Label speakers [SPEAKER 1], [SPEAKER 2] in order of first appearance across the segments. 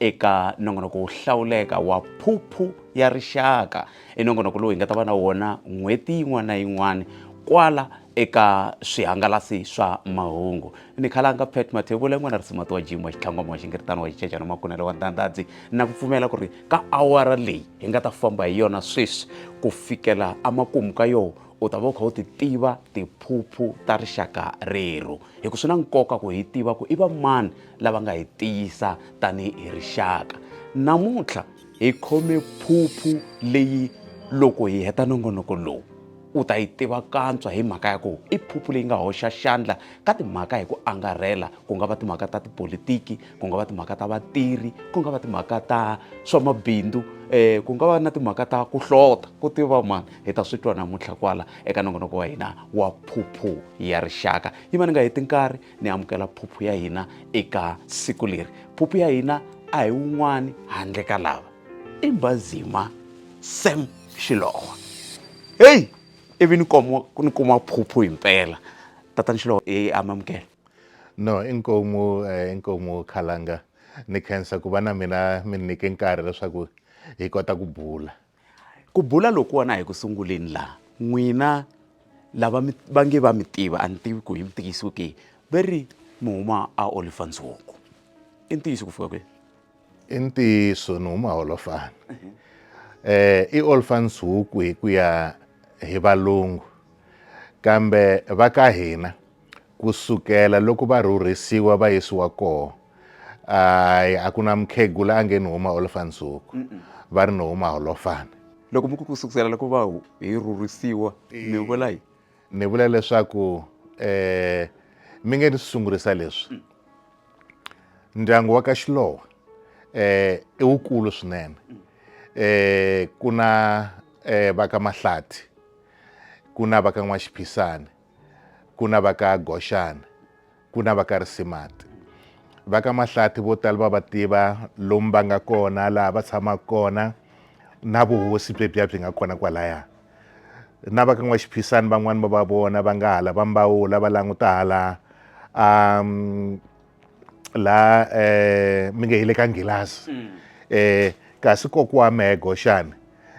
[SPEAKER 1] eka nongonoko wo hlawuleka wa phuphu ya rixaka i nongonoko lowu hi nga ta va na wona n'hweti yin'wana na yin'wana kwala eka swihangalasi swa mahungu ni khalanga pet mathevula yin'wana risimati wa jimi wa xitlhangwama wa xingiritano wa xicecana makunelo wa ndandadzi na ku pfumela ku ri ka awara leyi hi nga ta famba hi yona sweswi ku fikela emakumu ka yoho u ta va u kha u ti tiva tiphuphu ta rixaka rero hi ku swi na nkoka ku hi tiva ku i va mani lava nga hi tiyisa tanihi rixaka namuntlha hi khome phuphu leyi loko hi heta nongonoko lowu u ta yi tiva kantswa hi mhaka ya ku i phuphu leyi nga hoxa xandla ka timhaka hi ku angarhela ku nga va timhaka ta tipolitiki ku nga va timhaka ta vatirhi ku nga va timhaka ta swa mabindzu um ku nga va na timhaka ta ku hlota ku tiva mani hi ta swi twa namuntlha kwala eka nongonoko wa hina wa phuphu ya rixaka yi va ni nga heti nkarhi ni amukela phuphu ya hina eka siku leri phuphu ya hina a hi wun'wani handle ka lava i mbazima sam xilowa heyi ivi ni kuma ni kuma phuphu himpela tatani xilowa e amamukela no
[SPEAKER 2] inkomu eh, inkomu khalanga ni khensa ku va na mina mi ni nyike nkarhi leswaku hi kota ku bula ku
[SPEAKER 1] bula lokuwana hi ku sunguleni laha n'wina lava va nge va mi tiva a ni tivi ku hi mi tikisiwe ke va ri mi huma a olifantsongo i ntiyiso ku fika kwihi i
[SPEAKER 2] ntiyiso ni huma holofana mhm. eh i olfans huku hi ku ya hi valungu kambe va ka hina Ku sukela loko va rhurhisiwa va yisiwa koho, ai, a ku na mukhegula a nge ni huma Holofansuku, va ri ni huma Holofani. Loko mi ku ku
[SPEAKER 1] sukusela loko va hu, hi rhurhisiwa, mi vula yi? Ni vula leswaku,
[SPEAKER 2] eh, mi nge ni sungurisa leswi. Ndyangu wa ka Xilowa, eh, i wukulu swinene. Eh, ku na, eh, va ka Mahlati, ku na va ka N'waxiphisani, ku na va ka Goxana ku na va ka Risimati va ka Mahlati vo tala va va tiva lomu va nga kona laha va tshamaka kona na vuhosi byebya byi nga kona kwalaya na va ka N'waxiphisani van'wani va va vona va nga hala va mbawula va languta hala um la eh mi nge hile ka nghilazi mm. eh kasi kokiwa mego xana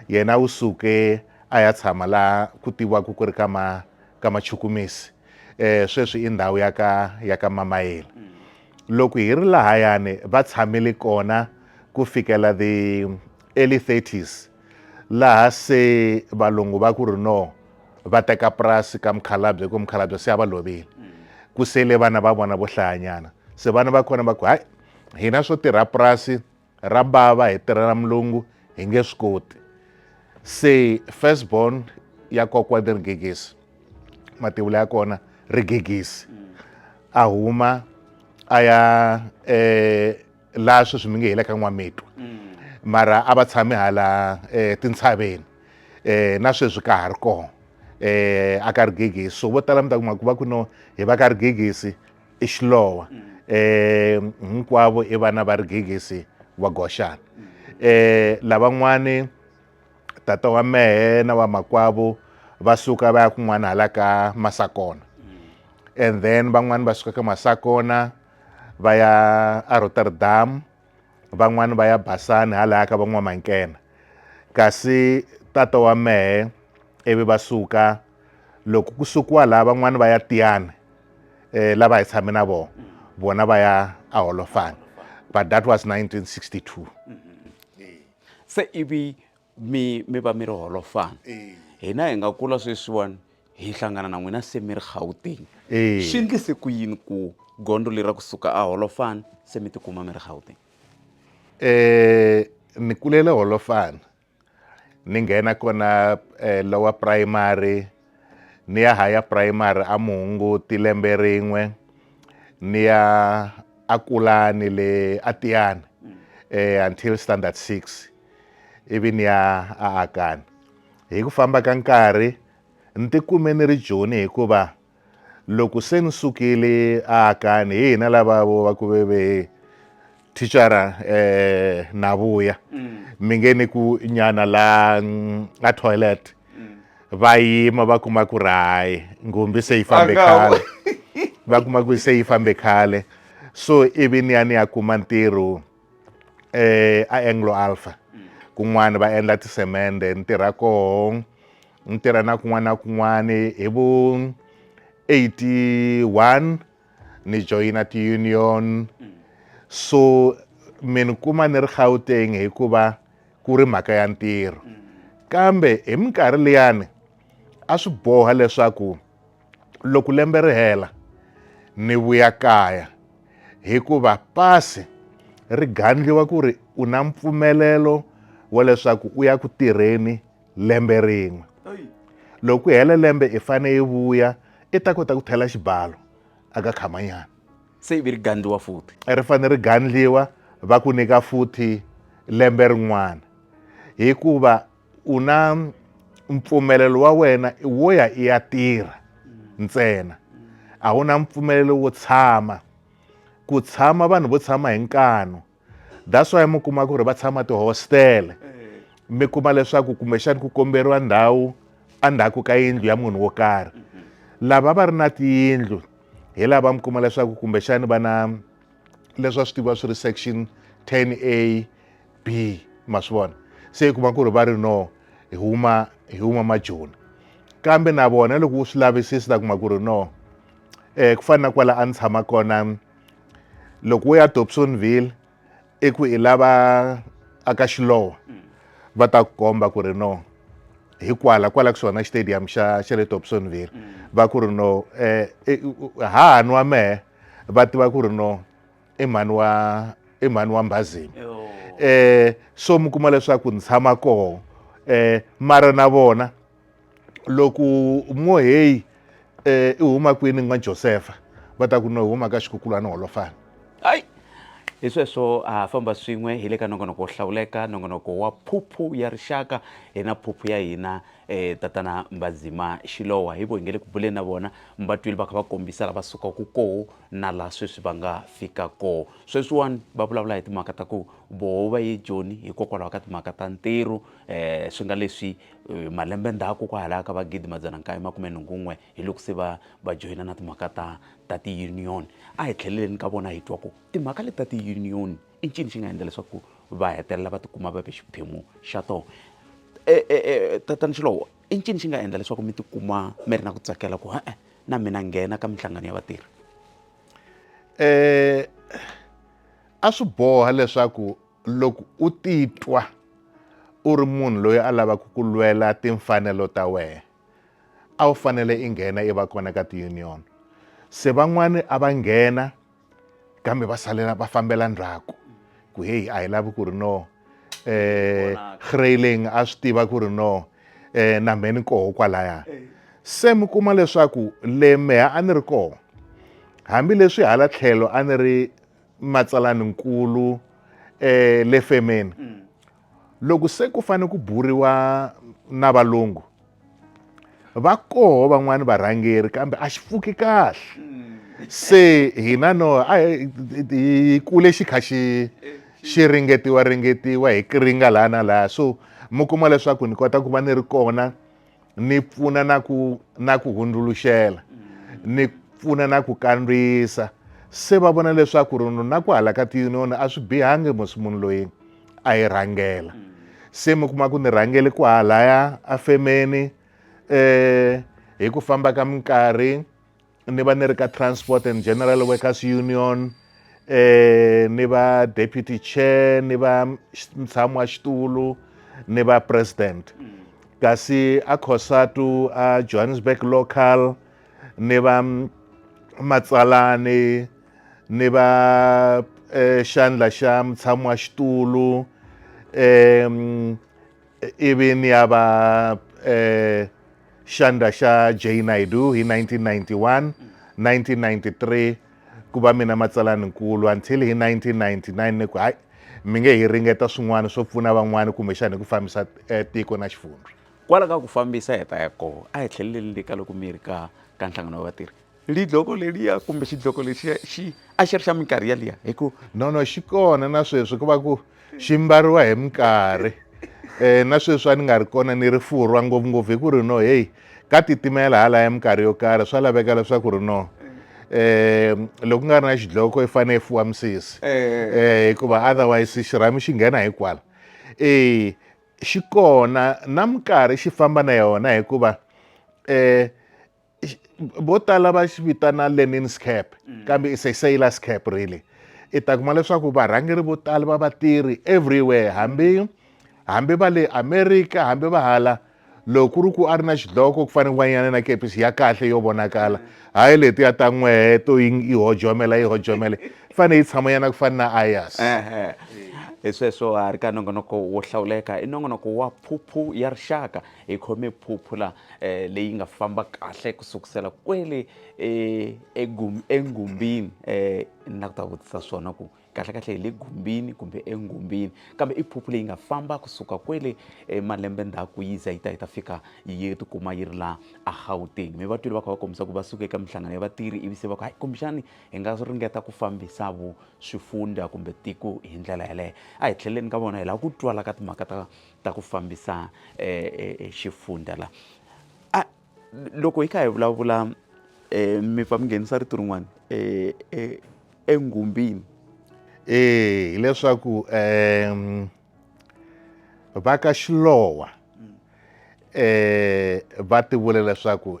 [SPEAKER 2] yena u suke a ya tshama la ku tivaku ku ri ka ma ka machukumisi eh sweswi i ndhawu ya ka ya ka mamayeli mm. loko hi ri lahayani va tshamile kona ku fikela the early 30s laha se valungu va ku ri no va teka purasi ka mukhalabye ku mukhalabye se a va lovile ku sele vana va vona vo hlayanyana se vana va kona va ku hayi hina swo tirha purasi ra bava hi tirhela mulungu hi nge swi koti se first born ya kokwa ni rigegisi mativula ya kona rigegisi a huma a ya eh, laha sweswi mi nge hi le ka n'wamitwa mara a va tshame hala eh, tintshaveni eh, na sweswi ka ha ri kona eh, a ka rigegisi so vo tala mi ta kuma ku va ku no hi va ka rigegisi i xilowa eh, hinkwavo i vana va rigegisi wa goxana eh, lavan'wani tata wa mehe na wa makwavo va suka va ya kun'wana hala ka masakona and then van'wani va suka ka masakona va ya arotterdam van'wani va ya basani halaya ka van'wamankena kasi tata wa mehe ivi va suka loko ku sukiwa laha van'wani va ya tiyani eh, lava hi tshame na vona vona va ya aholofana but that was 1962 mm
[SPEAKER 1] -hmm. se ivi mi mi va mi ri holofana hina hi nga kula sweswiwani hi hlangana na n'wina se mi ri gauteng swi ndlise ku yini ku gondzo leri ra kusuka a holofana se mi tikuma mi ri gauteng um
[SPEAKER 2] ni kulele holofana ni nghena kona um lower primary ni ya haya primary a muhunguti lembe rin'we ni ya a kulani le a tiyani eh, until standard six ivi ni ya a akani hi ku famba ka nkarhi ni tikume ni ri joni hikuva loko se ni sukile a akani hi hina lava vo va ku veve thicara eh, Navuya mm. mi nge ni ku nyana la mm, a toilet mm. va yima va kuma ku rayi ngumbi se yi fambe khale va kuma ku se yi fambe khale so ivi ni ya ni ya kuma ntirho eh, a anglo alpha mm. kun'wana va endla tisemende ni tirha koho ni tirha na kun'wana na kun'wana hi vu 81 ni joyina ti-union so mi ni kuma ni ri gauteng hikuva ku ri mhaka ya ntirho kambe hi minkarhi liyani a swi boha leswaku loko lembe ri hela ni vuya kaya hikuva pasi ri gandliwa ku ri u na mpfumelelo wa leswaku u ya ku tirheni lembe rin'we loko ku hela lembe i fane yi vuya i ta kota ku thela xibalo aka khamanyana se ivi ri
[SPEAKER 1] gandliwa futhi ri fane ri gandliwa
[SPEAKER 2] va ku nyika futhi lembe rin'wana hikuva u na mpfumelelo wa wena wo ya i ya tirha ntsena a wu na mpfumelelo wo tshama ku tshama vanhu vo tshama hi nkanu that's why mi kuma ku ri va tshama tihostele eh. mi kuma leswaku kumbexani ku komberiwa ndhawu endzhaku ka yindlu ya munhu wo karhi mm-hmm. lava va ri na tiyindlu hi lava mi kuma leswaku kumbexani va na leswi va swi tiva swi ri section 10 a b ma swi vona se yi kuma ku ri va ri no hi huma hi huma majoni kambe na vona loko wu swi lavisisi ta kuma ku ri no um ku fana na kwala a ni tshama kona loko wo ya dobsonville i ku i lava aka xilowa va ta ku komba ku ri no hi kwala kwala ku xona xitadium xa xa le dobsonville va ku ri no um hahani wa mehe va tiva ku ri no i mhani wa i mhani wa mbhazini um so mi kuma leswaku ni tshama koho um mara na vona loko mo heyi um i huma kwini n'wa josefa va ta ku no huma ka xikukulwana holofana hayi
[SPEAKER 1] hi sweswo ha famba swin'we hi le ka nongonoko wo hlawuleka nongonoko wa phuphu ya rixaka hi na phuphu ya hina um tatana mbazima xilowa hi vo hi nge le ku buleni na vona mba twile va kha va kombisa lava sukaka koho na laha sweswi va nga fika koho sweswiwani va vulavula hi timhaka ta ku voho va ye joni hikokwalaho ka timhaka ta ntirho um swi nga leswi E, malembe ndzhaku kwahalaya ka vagidi madzana nkaye makume nhungu n'we hi loko se va va joyina na timhaka ta ta ti-union a hi tlheleleni ka vona hi twa ku timhaka leti ta ti-union i ncini xi nga endla leswaku va hetelela va tikuma va ve xiphemu xa tona e, e, e, tatani xilowo i ncini xi nga endla leswaku mi tikuma mi ri na ku tsakela ku e-e na mina nghena ka minhlangano ya vatirhi um
[SPEAKER 2] a swi boha leswaku loko u titwa u ri munhu loyi a lavaka ku lwela timfanelo ta wena a wu fanele i nghena i va kona ka tiunion se van'wani a va nghena kambe va salela va fambela ndzhaku ku heyi a hi lavi ku ri no eh Greyling a swi tiva ku ri no eh na mheni koho kwalaya se mi kuma leswaku le meha a ni ri koho hambileswi hala tlhelo a ni ri matsalani-nkulu le femeni mm. loko se ku fane ku buriwa na valungu va koho van'wani varhangeri kambe a xi pfuki kahle mm. se hina no a hi kule xi kha xi xi ringetiwa ringetiwa hi ringa laha na laha so mi kuma leswaku ni kota ku va ni ri kona ni pfuna na ku na ku hundzuluxela ni pfuna na ku kandziyisa se va vona leswaku ri na ku hala ka tiyuniyoni a swi bihangi musi munhu loyi a yi rhangela se mi kuma ku ni rhangele ku halaya afemeni um hi ku famba ka minkarhi ni va ni ri ka transport and general workers union eh ni va deputy chair ni va mtshami wa xitulu ni va president mm. kasi a khosatu a johannesburg local ni va matsalani ni va eh, xandla xa mtshami wa xitulu um ivi ni ya va eh, xandla xa jay naidu hi 1991 1993 ku va mina matsalani nkulu until hi 1999 ni ku hayi mi nge hi ringeta swin'wana swo pfuna van'wana kumbexana hi ku fambisa eh, tiko na xifundza kwala ka ku fambisa
[SPEAKER 1] hi ta ya koho a hi tlheleleli ka loko mi ri ka ka nhlangano wa vatirhi Lidloko leliya kumbe xidloko lexiya xi a xi ri xa minkarhi yaliya hi ku no no xi kona
[SPEAKER 2] na sweswi ku va ku xi mbariwa hi minkarhi um na sweswi a ni nga ri kona ni ri furwa ngopfungopfu hi ku ri no heyi ka titimela halaya minkarhi yo karhi swa laveka leswaku ri no um loko ku nga ri na xidloko i fanele i fuwa misisi um hikuva otherwise xirhami xi nghena hi kwala e xi kona na minkarhi xi famba na yona hikuva um vo tala va xi vitana lenin's cap mm. kambe is a sailors cap really i ta kuma leswaku varhangeri vo tala va vatirhi everywhere hambi hambi va le america hambi va hala loko ku ri ku a ri na xidloko ku fanele n'wanyana na kepisi ya kahle yo vonakala hayi leti ya ta n'wehe to yi hojomela yi hojomela fane yi tshamanyana ku fana na ayas hi
[SPEAKER 1] sweswo a ri ka nongonoko wo hlawuleka i nongonoko wa phuphu ya rixaka Hi khome phuphula eh, leyi nga famba kahle ku sukusela kwele eh, egum- engumbini eh, na ku ta vutisa swona ku kahlekahle hi le gumbini kumbe engumbini kambe i phuphu leyi nga famba kusuka kwele eh, malembe ndzhaku yi za yi ta yi ta fika yi tikuma yi ri la agauteng mi vatwile va kha va kombisa ku va suke eka minhlangano ya vatirhi ivi se va ku hayi kumbexani hi nga ringeta ku fambisa vu swifundza kumbe tiko hi ndlela yeleyo a hi tlheleni ka vona hi lava ku twala ka timhaka ta ta ku fambisa e, e, e xifundza la a loko hi kha hi vulavula e, mi pfa mi nghenisa rito rin'wana e, e, engumbini e hileswaku
[SPEAKER 2] um va ka xilowa um va ti vule leswaku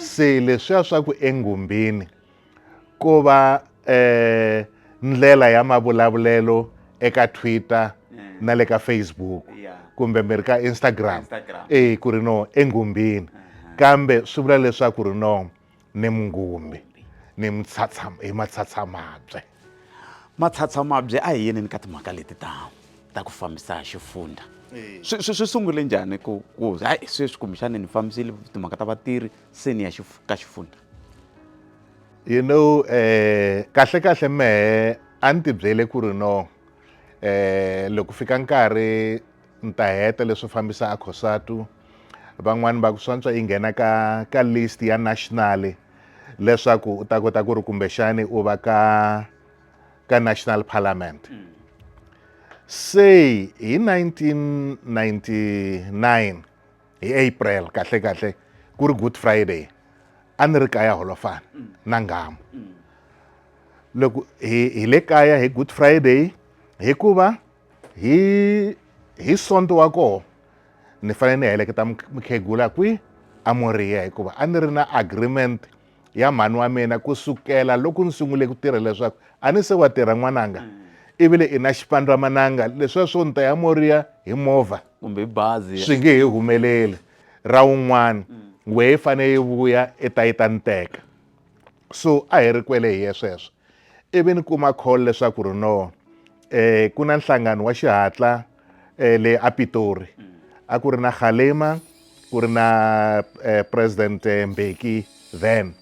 [SPEAKER 2] se leswiya swa ku engumbini ko va eh ndlela ya mavulavulelo eka Twitter na le ka Facebook kumbe mi ri ka Instagram eh ku ri no engumbini kambe swi vula leswaku ri no ni mungumbi ni mitshatshama hi matshatsamabye
[SPEAKER 1] matlhatsamabye a hi yeneni ka timhaka leti ta ta ku fambisa xifundza swi sungule njhani ku ku hayi sweswi kumbexani ni fambisile timhaka ta vatirhi seni ya ka xifundza
[SPEAKER 2] you know eh kahle kahle mehe a ni tibyele ku ri no eh loko fika nkarhi Ni ta heta leswo fambisa a Cosatu van'wani va ku swantswa yi nghena ka ka list ya national leswaku u ta kota ku ri kumbexani u va ka ka national parliament se hi 1999 hi april kahle kahle ku ri good friday a ni ri kaya holofana na nghamu loko hi hi le kaya hi good friday hikuva hi hi sonto wa koho ni fanele ni heleketa mukhegula kwi a moriya hikuva a ni ri na agreement ya mhani wa mina ku sukela loko ni sungule ku tirha leswaku a ni se wa tirha n'wananga mm. ivile i na xipandwa mananga leswiya swo ni ta ya moriya hi movha kumbe bazi
[SPEAKER 1] swi nge he humeleli
[SPEAKER 2] ra wun'wana mm. wehe fane yi vuya i ta yi ta ni teka so a hi ri kwele hi ye sweswo ivi ni kuma call leswaku ri no eh ku na nhlangano wa xihatla eh, le apitori a ku ri na khalema ku ri na eh, president eh, mbeki then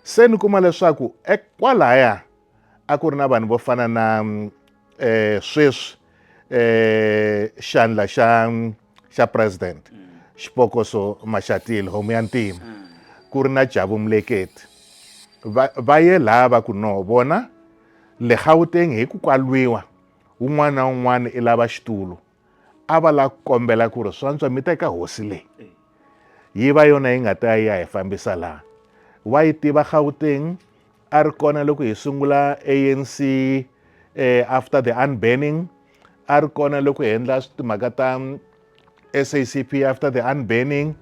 [SPEAKER 2] se ni kuma leswaku ekwalaya a ku ri na vanhu vo fana na mm, eh, sweswi eh, xandla xa mm, xa president xipokoso maxatile homu ya ntima ku ri na jabu muleketi va, va ye laha va ku no vona le gauteng hi ku kwalwiwa un'wana na un'wana i lava xitulu a va la ku kombela ku ri swantswa mi teka hosi leyi yi va yona yi nga ta ya hi fambisa laha wa yi tiva gauteng a ri kona loko hi sungula anc eh, after the unbanning a ri kona loko hi endla timhaka ta sacp after the unbanning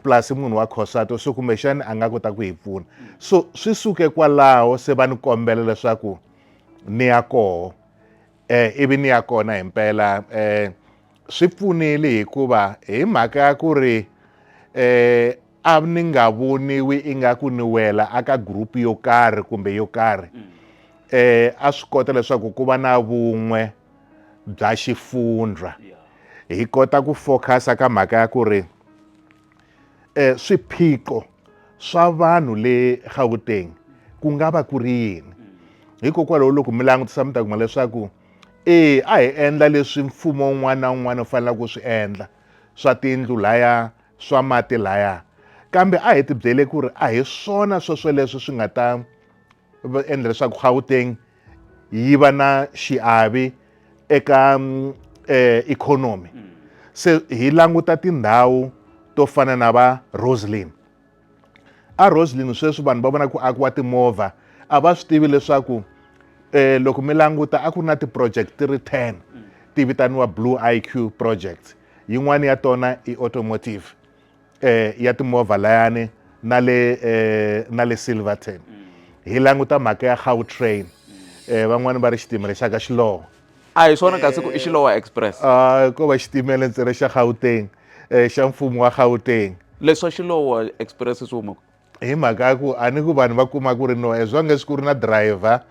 [SPEAKER 2] plus munhu wa khosato so kumbexani a nga kota ku hi pfuna so swi suke kwalaho se va ni kombela leswaku ni ya koho eh ivi ni ya kona hi mpela eh swi pfunile hikuva hi mhaka ya ku ri eh a ni nga voniwi ingaku ni wela aka group yo karhi kumbe yo karhi mm. eh a swi kota leswaku ku va na vun'we bya xifundra hi kota ku focus ka mhaka ya ku ri eh swiphiqo swa vanhu le Gauteng ku nga va ku ri yini hikokwalaho loko mi langutisa mi ta kuma leswaku e a hi endla leswi mfumo un'wana na un'wana u faneleke ku swi endla swa tiyindlu laya swa mati laya kambe a hi ti byele ku ri a hi swona swesweleswo swi nga ta endla leswaku gauteng yi va na xiavi eka um ikhonomi mm. se hi languta tindhawu to fana na va roselin a roslin sweswi vanhu va vona ku akiwa timovha a va swi tivi leswaku um loko mi languta a ku ri na ti-project ti ri ten ti vitaniwa blue i q project yin'wana ya tona i automotive um ya timovha layani na le um na le silverton hi languta mhaka ya gautrain um van'wani va ri xitimela xa ka xiloho a hi swona
[SPEAKER 1] kasi ku i xilowa express a ko va xitimela
[SPEAKER 2] ntsena xa gauteng um xa mfumo wa gauteng leswi swa xilowa
[SPEAKER 1] express swi huma hi mhaka ya ku
[SPEAKER 2] a ni ku vanhu va kuma ku ri no as long as ku ri na driver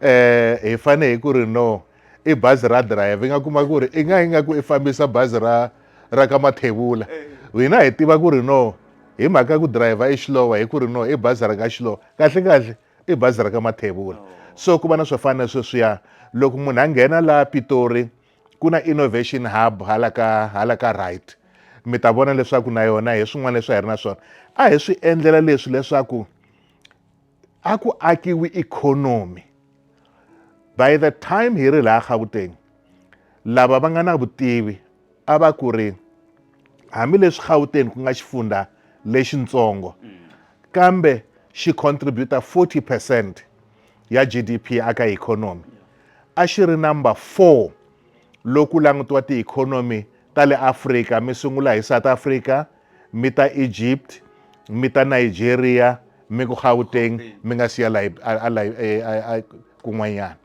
[SPEAKER 2] um hi fane hi ku ri no i bazi ra driver i nga kuma ku ri i nga yi nga ku i fambisa bazi ra ra ka mathevula hina hi tiva ku ri no hi mhaka ku driver i xilowa hi ku ri no i bazi ra ka xilowa kahle kahle i bazi ra ka mathevula so ku va na swo fana na sweswiya loko munhu a nghena laha pitori ku na innovation hub hala ka hala ka right mi ta vona leswaku na yona hi swin'wana leswi hi ri na swona a hi swi endlela leswi leswaku a ku akiwi ikhonomi by the time hi ri laha gauteng lava va nga na vutivi a va ku ri hambileswi Gauteng ku nga xifundza lexintsongo kambe xi contributa 40 percent ya GDP aka ikhonomi a xi ri number 4 loku langutiwa tiikhonomi ta le Afrika mi sungula hi South Africa mi ta Egypt mi ta Nigeria mi ku Gauteng mi nga siya layi kun'wanyana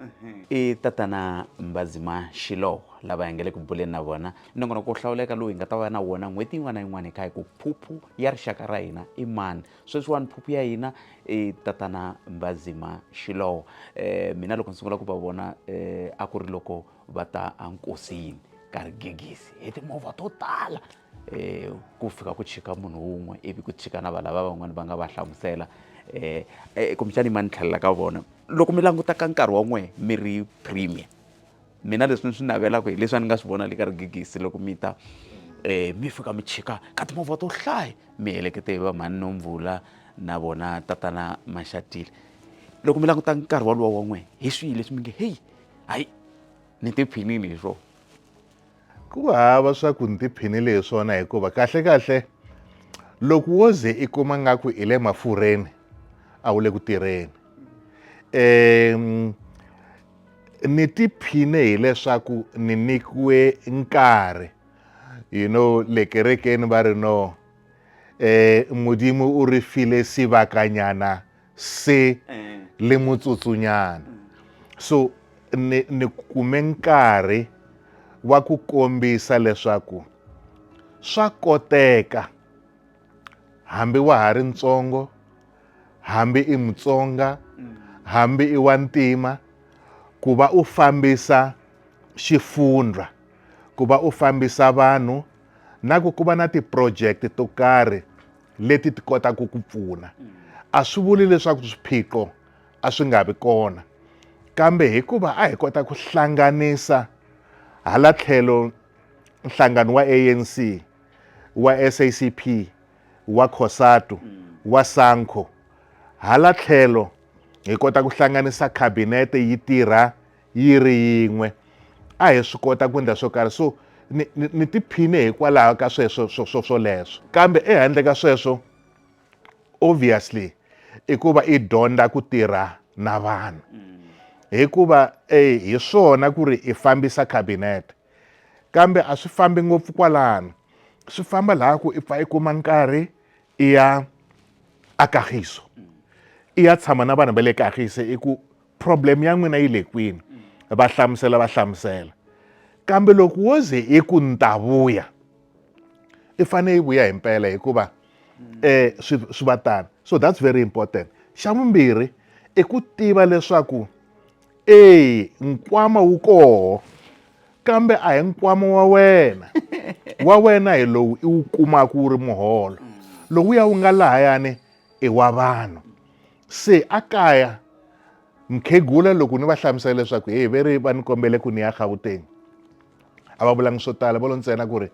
[SPEAKER 2] i tatana
[SPEAKER 1] Mbazima Shiloh lava hi nga le ku buleni na vona nongonoko wo hlawuleka lowu hi nga ta va na wona n'hweti yin'wana na yin'wana hi kha hi ku phuphu ya rixaka ra hina i mani sweswiwani phuphu ya hina i tatana Mbazima Shiloh um mina loko ni sungula ku va vona um a ku ri loko va ta enkosini ka rigegisi hi timovha to tala um ku fika ku chika munhu wun'we ivi ku chika na va lava van'wani va nga va hlamusela um kumbexani ma ni tlhelela ka vona loko mi languta ka nkarhi wa n'wehe mi ri premier mina leswi ni swi navelaka hi leswi a ni nga swi vona le ka rigegisi loko mi ta um mi fika mi chika ka timovha to hlaya mi helekete hi va mhani nomvula na vona tatana maxatile loko mi languta nkarhi walowo wa n'wehe hi swihi leswi mi nge heyi hayi ni tiphinile hi swona ku
[SPEAKER 2] hava swa ku ni tiphinile hi swona hikuva kahle kahle loko wo ze i kuma nga ku i le mafurheni a wu le ku tirheni um ni tiphine hileswaku ni nikiwe nkarhi you know le kerekeni va ri no um eh, mudimu u ri file sivakanyana se eh. le motsotsunyana so ni ni kume nkarhi wa ku kombisa leswaku swa koteka hambi wa ha ri ntsongo hambi i mutsonga mm. hambi i wa ntima ku va u fambisa xifundza ku va u fambisa vanhu na ku ku va na ti-project to karhi leti ti kotaka ku pfuna a swi vuli leswaku swiphiqo a swi nga vi kona kambe hikuva a hi kota ku hlanganisa hala tlhelo nhlangano wa ANC wa SACP wa Cosatu wa Sanco hala tlhelo hi kota ku hlanganisa cabinet yi tirha yi ri yin'we a hi swi kota ku endla swo karhi so ni, ni, ni tiphine hikwalaho ka sweswo swo swoleswo kambe ehandle ka sweswo obviously i ku va i dyondza ku tirha na vanhu hikuva e hi swona ku ri i fambisa cabinet kambe a swi fambi ngopfu kwalano swi famba laha ku i pfa i kuma nkarhi i ya a kagiso i ya tshama na vanhu va le kagiso i ku problem ya n'wina yi le kwini va hlamusela va hlamusela kambe loko wo ze i ku ni ta vuya i fanele yi vuya hi mpela hikuva eh swi swi va tani so that's very important xa vumbirhi i ku tiva leswaku e nkwama wu koho kambe a hi nkwama wa wena wa wena hi lowu i wu kumaka wu ri muholo lowuya wu nga lahayani i wa vanhu se a kaya mukhegula loko ni va hlamusela leswaku heyi ve ri va ni kombele ku ni ya gauteng a va vulangi swo tala va lo ntsena ku ri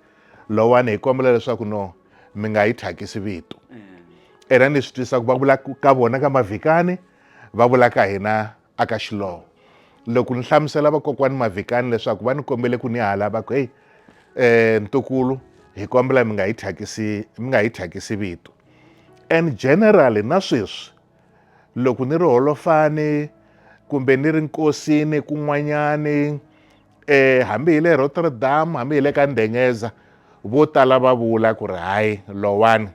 [SPEAKER 2] lowani hi kombela leswaku no mi nga yi thyakisi vito mm. ena ni swi twisaka va vula ka vona ka mavhikani va vula ka hina a ka xilowo loko ni hlamusela vakokwani mavhikani leswaku va ni kombele ku ni hala va ku heyi um ntukulu hi kombela mi nga hi thyakisi mi nga hi thyakisi vito and generally na sweswi loko ni ri holofani kumbe ni ri nkosini kun'wanyani eh hambi hi le Rotterdam hambi hi le ka Ndengeza vo tala va vula ku ri hayi lowani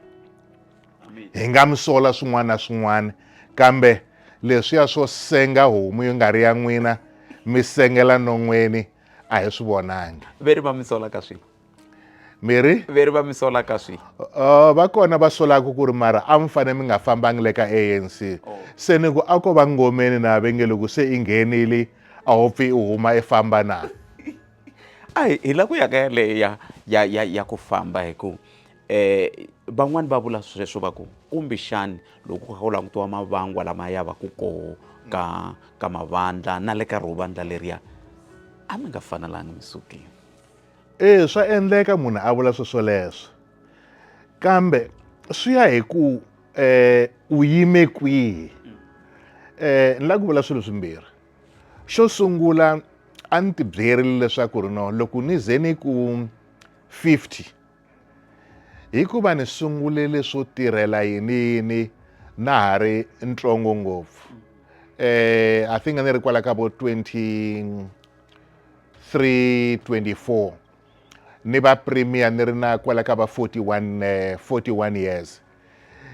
[SPEAKER 2] hi nga mi sola swin'wana na swin'wana kambe leswiya swo senga homu yi nga ri ya n'wina mi sengela non'weni a hi swi vonangi ve ri va mi sola ka
[SPEAKER 1] swihi miri
[SPEAKER 2] ve ri va mi sola
[SPEAKER 1] ka swi uh, va kona va
[SPEAKER 2] solaka ku ri mara a mi fanele mi nga fambangi le ka anc oh. se ni ku a ko va ngomeni na ve nge loko se i nghenile a ho pfi i huma i famba na a
[SPEAKER 1] hi la ku ya ka yaleyo ya ya ya ya ku famba hi ku eh van'wani va vula sweswo va ku kumbe xani loko ku kha ku langutiwa mavangwa lama ya va ku koho ka ka mavandla na le ka ro vandla leriya a mi nga fanelanga mi sukile e
[SPEAKER 2] swa endleka munhu a vula sweswo leswo kambe swi ya hi ku um u yime kwihi um ni lava ku vula swilo swimbirhi xo sungula a ni tibyerile leswaku ri no loko ni ze ni ku fifty Hikuva ni sungule leswo tirhela yiniyini na ha ri ntsongo ngopfu eh i think ni ri kwala ka vo 23 24 ni va premier ni ri na kwala ka va 41 41 eh, years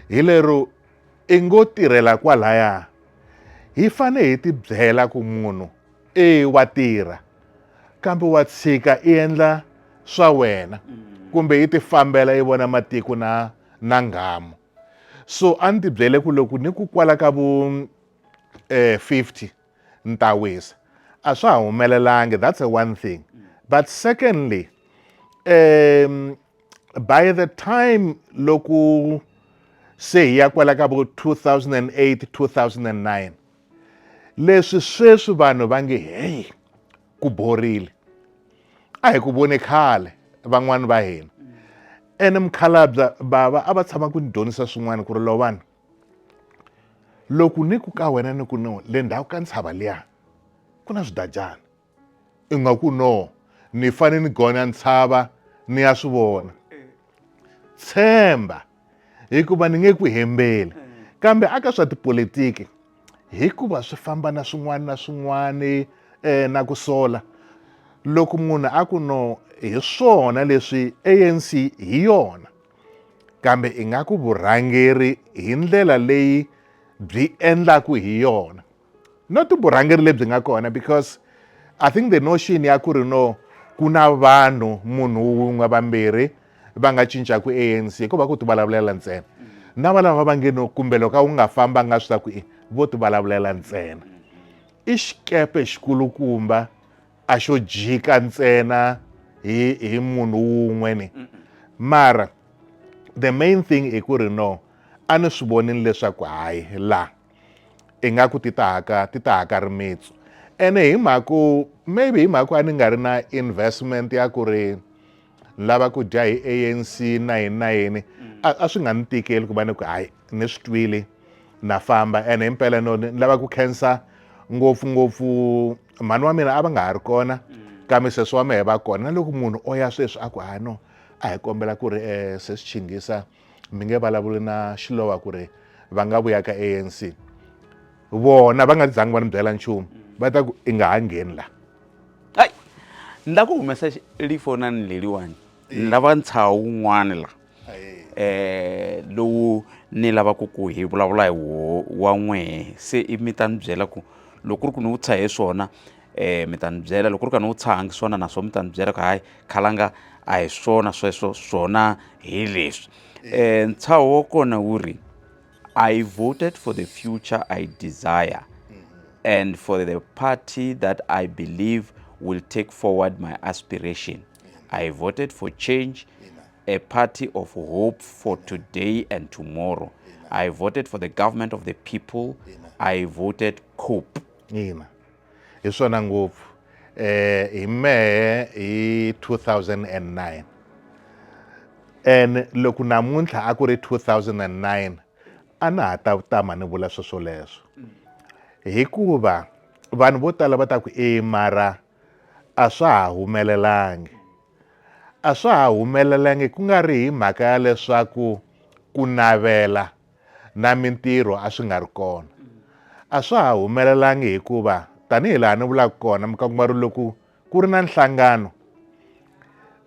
[SPEAKER 2] hi lero i ngo tirhela kwalaya hi fane hi ti byela ku munhu e wa tirha kambe wa tshika i endla swa wena mm. kumbe i tifambela i vona matiko na na nghamu so a ni tibyele ku loko ni ku kwala ka vu um eh, 50 ni ta wisa a swa ha humelelangi that's a one thing mm. but secondly um by the time loko se hi ya kwala ka vo 2008 2009 Leswi sweswi vanhu va nge heyi ku borile a hi ku vone khale van'wani va hina ene mukhalabya bava a va tshama ku ni dyondzisa swin'wana ku ri lovana loku ni ku ka wena ni ku no le ndhawu ka ntshava liya ku na swidajana Ingaku no, ni fane ni gonya ntshava ni ya swi vona. Tshemba, hikuva ni nge ku hembeli. Kambe aka swa tipolitiki, hikuva swi famba na swin'wana na swin'wana eh, na ku sola loko munhu a ku no hi swona leswi anc hi yona kambe ingaku vurhangeri hi ndlela leyi byi endlaku hi yona not vurhangeri lebyi nga kona because i think the notion ya ku ri no ku na vanhu munhu wun'we vambirhi va nga cincaku anc ko va ku ti vulavulela ntsena na valava va nge no kumbe loko a wu nga famba nga swi ta ku i vo ti vulavulela ntsena i xikepe xikulukumba a xo jika ntsena hi hi munhu wun'we ni mara the main thing i ku ri no a ni swi vonini leswaku hayi la ingaku ti ta haka ti ta haka rimitsu ene hi mhaku maybe hi mhaku a ni nga ri na investment ya ku ri ni lava ku dya hi anc na yini na yini a swi nga ni tikeli ku va ni ku hayi ni swi twile na famba ene hi mpela no ni lava ku khensa ngopfungopfu mhani wa mina a va nga ha ri kona kambe sesi wa mehe va kona na loko munhu o ya sweswi a ku hayi no a hi kombela ku ri um sesi chingisa mi nge vulavuli na xilowa ku ri va nga vuya ka anc vona va nga zangi va ni byela nchumu va ta ku i nga ha ngheni la hayi
[SPEAKER 1] ni la ku humesa lifonani leliwani ni lava ntshaha wun'wani la eh lowu ni lavaka ku hi vulavula hi wo wa n'wehe se i mi ta ni byela ku loko ku ri ku ni wu tshahe swona um mi ta ni byela loko ku ri ka ni wu tshahangi swona na swona mi ta ni byela ku hayi khalanga a hi swona sweswo swona hi leswi um ntshaho wa kona wu ri i voted for the future i desire and for the party that i believe will take forward my aspiration i voted for change a party of hope for today and tomorrow i voted for the government of the people i voted cope Ina.
[SPEAKER 2] hi swona ngopfu eh hi mehe hi 2009 and loko namuntlha a ku ri 2009 a na ha ta tama ni vula sweswo leswo hikuva vanhu vo tala va ta ku e mara a swa ha humelelangi a swa ha humelelangi ku nga ri hi mhaka ya leswaku ku navela na mintirho a swi nga ri kona. A swa ha humelelangi hikuva tanihi laha ni vulaka kona mi ka kuma ri loko ku ri na nhlangano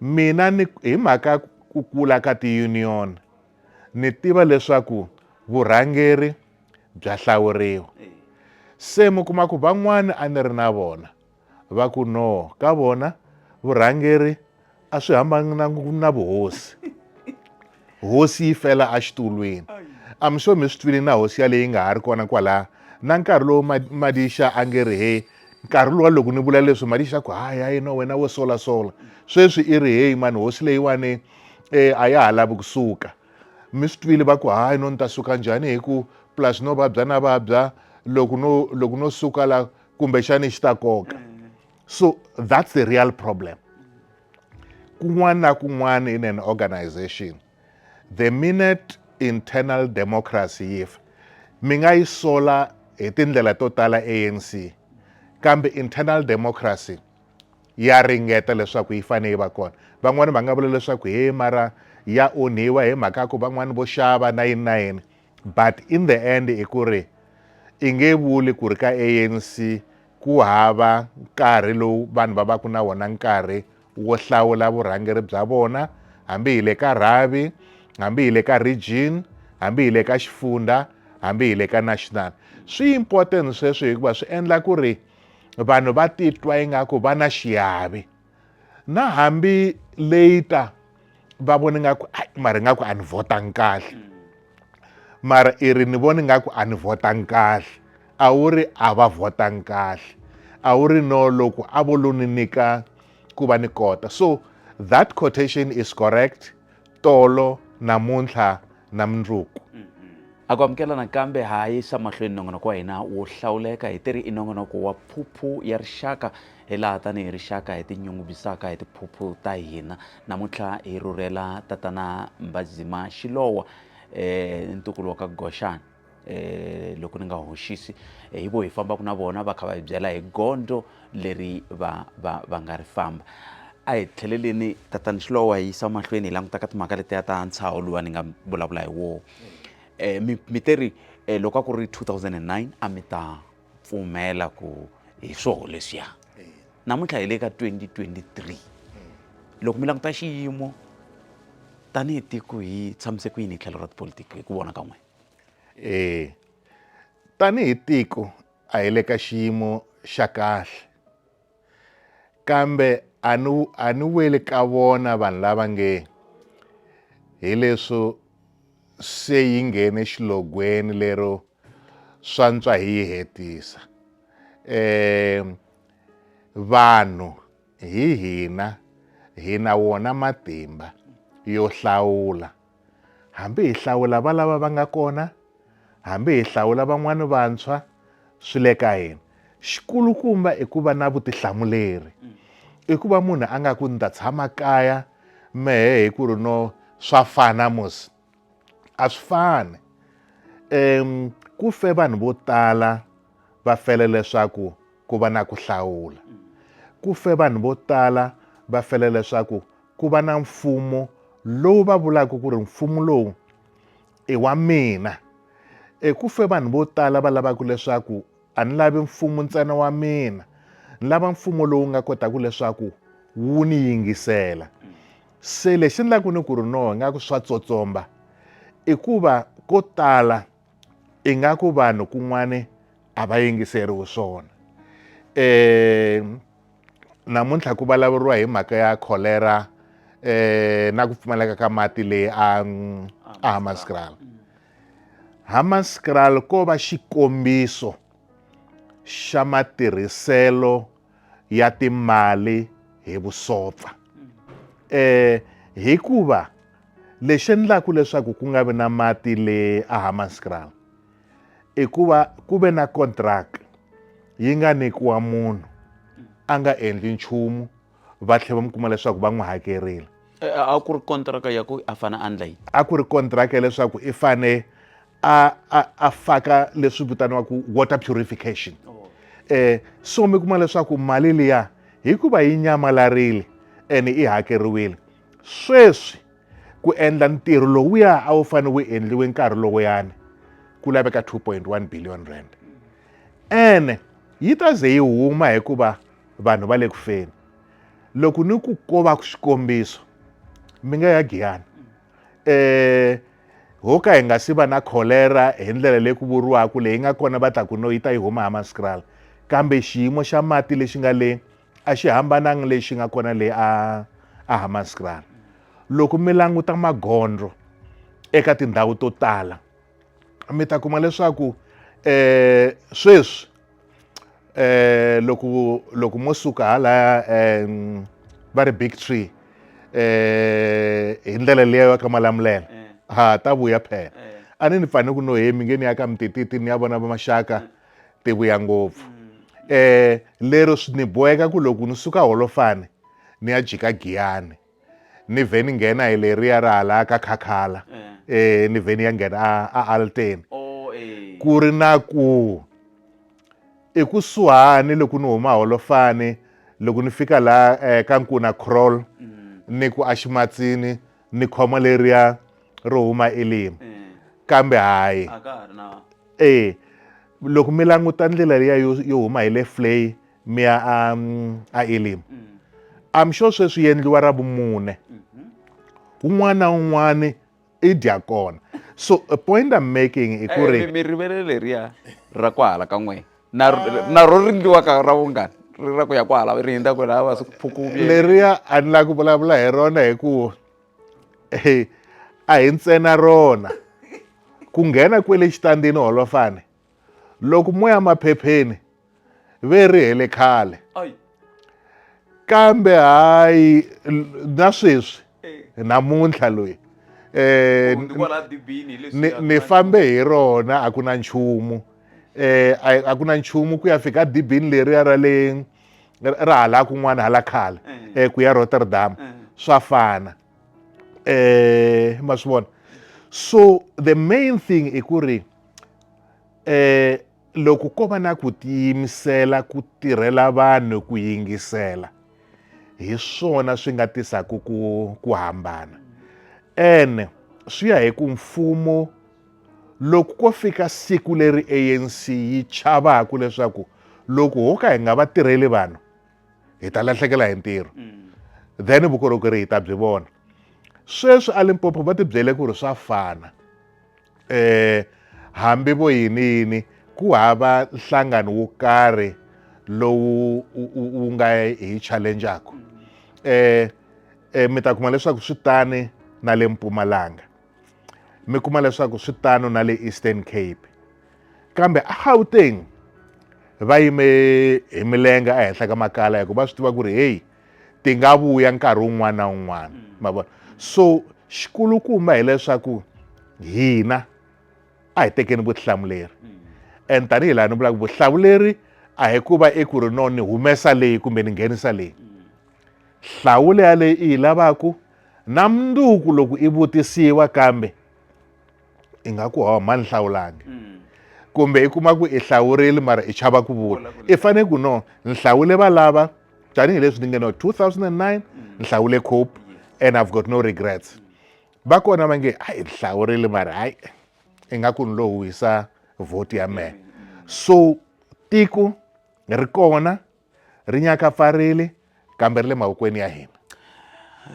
[SPEAKER 2] mina ni hi mhaka ku kula ka tiyuniyoni ni tiva leswaku vurhangeri bya hlawuriwa se mi kuma ku van'wana a ni ri na vona Va ku, No, ka vona vurhangeri a swi hambanangi na vuhosi. Hosi yi fela exitulwini. I'm sure mi swi twile na hosi yaleyi yi nga ha ri kona kwalaya. Na nkarhi lowu Madixa a nge ri, Heyi, nkarhi luwa loko ni vula leswi Madixa a ku, Hayi, hayi, no, wena wo solasola. Sweswi i ri, Heyi mani, hosi leyiwani e, a ya ha lavi ku suka. Mi swi twile va ku, Hayi, no, ni ta suka njhani hi ku plus no vabya na vabya, loko no, loko no suka la kumbexani xi ta koka mm. so that's the real problem kun'wana na kun'wana in an organization the minute internal democracy yi fa mi nga yi sola hi tindlela to tala anc kambe internal democracy ya ringeta leswaku yi fanele yi va kona van'wani va nga vula leswaku he mara ya onhiwa hi mhaka ku van'wani vo xava na yini na yini but in the end i ku ri i nge vuli ku ri ka anc ku hava nkarhi lowu vanhu va va ku na wona nkarhi wo hlawula vurhangeri bya vona hambi hi le ka rhavi hambi hi le ka region hambi hi le ka xifundza hambi hi le ka national swi important sweswo hikuva swi endla ku ri vanhu va titwa ingaku va na xiyavi na hambi later va vona nga ku mara nga ku a ni votangi kahle mara i ri ni vona nga ku a ni votangi kahle a wu ri a va votangi kahle a wu ri no loko a vo lo ni nyika ku va ni kota so that quotation is correct tolo namuntlha na mundzuku a ku
[SPEAKER 1] amukela nakambe ha yisa mahlweni nongonoko wa hina wo hlawuleka hi tiri i nongonoko wa phuphu ya rixaka hi laha tanihi rixaka hi tinyungubyisaka hi tiphuphu ta hina namuntlha hi rhurhela tatana mbazima xilowa um ntukulu wa ka goxana um loko ni nga hoxisi eh, hi vo hi fambaka na vona va kha va hi byela hi gondzo leri va va va nga ri famba a hi tlheleleni tatani xilowa hi yisa mahlweni hi languta ka timhaka letiya ta ntshaho luwa ni nga vulavula hi woho um mi te ri um loko a ku ri 2009 a mi ta pfumela ku hi swoho leswiya namuntlha hi le ka 2023 loko mi languta xiyimo tanihi tiko hi tshamise ku yini hi tlhelo ra tipolitiki hi ku vona ka n'wina e
[SPEAKER 2] tanihi tiko a hi le ka xiyimo xa kahle Kambe a ni a ni weli ka vona vanhu lava nge hi leswo se yi nghene xilogweni lero swantswa hi yi hetisa eh vanhu hi hina hina wona matimba yo hlawula Hambi hi hlawula valava va nga kona, hambi hi hlawula van'wana vantshwa, swi le ka hina. Xikulukumba i ku va na vutihlamuleri. I ku va munhu a nga ku ni ta tshama kaya mehe hi ku ri no swa fana mos a swi fani um ku fe vanhu vo tala va fele leswaku ku va na ku hlawula ku fe vanhu vo tala va fele leswaku ku va na mfumo lowu va vulaka ku ri mfumo lowu i wa mina eku fe vanhu vo tala va lavaka leswaku a ni lavi mfumo ntsena wa mina ni lava mfumo lowu nga kotaka leswaku wu ni yingisela se lexi ni lavaku ni ku ri no nga ku swa tsotsomba i ku va ko tala ingaku vanhu kun'wani a va yingiseriwi swona um namuntlha ku vulavuriwa hi mhaka ya cholera um na ku pfumaleka ka mati leyi a a hamaskral hamaskral ko va xikombiso xa matirhiselo ya timali hi vusopfa eh hikuva lexi endlaka leswaku ku nga vi na mati le ahammanskraal i ku va ku ve na contract yi nga nyikiwa munhu a nga endli nchumu va tlhela va mi kuma leswaku va n'wi hakerile eh, a ku
[SPEAKER 1] ri
[SPEAKER 2] kontraka
[SPEAKER 1] ya ku
[SPEAKER 2] a
[SPEAKER 1] fane a ndla
[SPEAKER 2] yini
[SPEAKER 1] a
[SPEAKER 2] ku ri
[SPEAKER 1] kontraka ya
[SPEAKER 2] leswaku
[SPEAKER 1] i
[SPEAKER 2] fane
[SPEAKER 1] a
[SPEAKER 2] a a faka leswi vitaniwaka water purification oh. eh so mi kuma leswaku mali liya hikuva yi nyamalarile ene i hakeriwile sweswi ku endla ntirho lowuya a wu fanele wu endliwe nkarhi lowuyani ku laveka 2.1 billion rand ene yi ta ze yi huma hikuva vanhu va le ku feni loko ni ku kova xikombiso mi nga ya giyana um eh, ho ka hi nga si va na kholera hi ndlela leyi ku vuriwaka leyi nga kona va ta ku no yi ta yi huma hamaskral kambe xiyimo xa mati lexi nga le a xi hambananga lexi nga kona le a a hamaskral loko mi languta magondlo eka tindhawu to tala mi ta kuma leswaku um sweswi eh loko loko mo suka halaya um va ri big tree eh hi ndlela leyi ya ka malamulela eh. ha ta vuya phela eh. a ni ni fane ku no hemi nge ni ya ka mitititi ni ya vona va maxaka mm. ti vuya ngopfu mm. eh lero swi ni boheka ku loko ni suka holofane ni ya jika giyani ni vhe ni nghena hi leriya ra hala ka khakhala eh ni vhe ni ya nghena a, a alteni ku ri na ku ekusuhani loko ni huma holofani loko ni fika la eh, ka nkuna crawl ni ku aximatsini ni khoma leriya ro huma elimi kambe hayi a ka ha ri na eh loko mi languta ndlela leya yo yo huma hi le flay mi ya a mm, a elim i'm sure sweswi yendliwa ra vumune un'wana na un'wana i dya kona so a point i'm making i ku ri Eh, mi rivele leriya
[SPEAKER 1] ra ku hala ka n'we na na ro rindliwa ka ra vungani ri ra ku ya ku hala ri hindza ku lava swi phukuvi leriya a ni lava
[SPEAKER 2] ku vulavula hi rona hikuva a hi ntsena rona ku nghena kwele xitandini holofane loko moya maphepheni ve ri hele khale kambe hayi na sweswi eh. namuntlha loyi eh ni fambe hi rona a ku na nchumu eh a ku na nchumu ku ya fika dibini leriya ra le ra hala kun'wana hala khala eh. ku ya rotterdam swa fana um ma swi vona so the main thing i ku ri um loko ko va na ku tiyimisela ku tirhela vanhu ku yingisela hi swona swi nga tisaka ku ku hambana ene swi ya hi ku mfumo loko ko fika siku leri anc yi chavaka leswaku loko ho ka hi nga va tirheli vanhu hi ta lahlekela hi ntirho mm. then vukorhokeri hi ta byi vona sweswi alimpopo va tibyele ku ri swa fana um hambi vo yini yini ku hava nhlangano wo karhi lowu wu nga hi challengeaku um mi ta kuma leswaku swi tani na le mpumalanga mi kuma leswaku swi tano na le eastern cape kambe agauteng va yime hi milenge ehenhla ka makala hikuva va swi tiva ku ri heyi ti nga vuya nkarhi wun'wana na wun'wana mm. ma vona so xikulukumba hileswaku hina a hi tekeni vutihlamuleri mm. and tanihi laha ni vulaka vutihlamuleri a hi ku va eku ri no ni humesa leyi kumbe ni nghenisa leyi mm. hlawula yaleyi i yi lavaku Na mundzuku loko i vutisiwa kambe i nga ku hawa mhani hlawulangi mm. kumbe i kuma ku i hlawurile mara i chava ku vula i fane ku no ni hlawule valava tanihileswi ni nge no 2009 ni hlawule cope and i've got no regrets va kona va nge hayi ni hlawurile mara hayi i nga ku ni lo huhisa vhoti ya mehe so tiko ri kona ri nyakapfarile kambe ri le mavokweni ya hina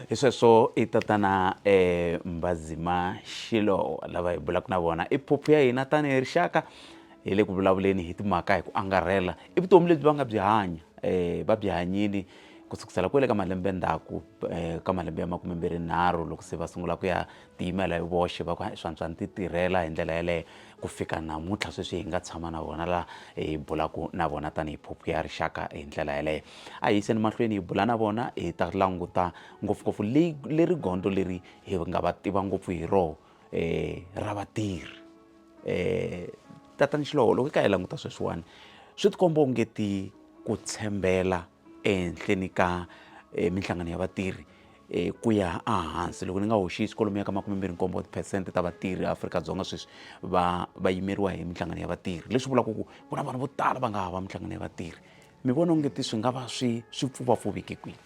[SPEAKER 2] hi sweswo
[SPEAKER 1] i tatana um eh, mbazima xilo lava hi bulaka na vona i phuphu ya hina tanihi rixaka hi le ku vulavuleni hi timhaka hi ku angarhela i vutomi lebyi va nga byi hanya um va byi hanyini ku sukusela kwele ka malembe ndzhaku um ka malembe ya makume mbirhi nharhu loko se va sungula ku ya tiyimela hi voxe va ku hayi swantswa ni titirhela hi ndlela yeleyo ku fika namuntlha sweswi hi nga tshama na vona laha hi bulaka na vona tanihi phuphu ya rixaka hi ndlela yeleyo a hi yiseni mahlweni hi bula na vona hi ta languta ngopfungopfu leyi leri gondzo leri hi nga va tiva ngopfu hi roho um ra vatirhi um tatani xilowo loko hi ka hi languta sweswiwani swi tikomba ongeti ku tshembela ehenhleni ka minhlangano ya vatirhi ku ya ehansi loko ni nga hoxisi kwalomuya ka makumembirhinkombo tiphesente ta vatirhi eAfrika-Dzonga sweswi va va yimeriwa hi minhlangano ya vatirhi leswi vulaka ku ku na vanhu vo tala va nga hava minhlangano ya vatirhi mi vona onge ti swi nga va swi swi pfuvapfuveke kwihi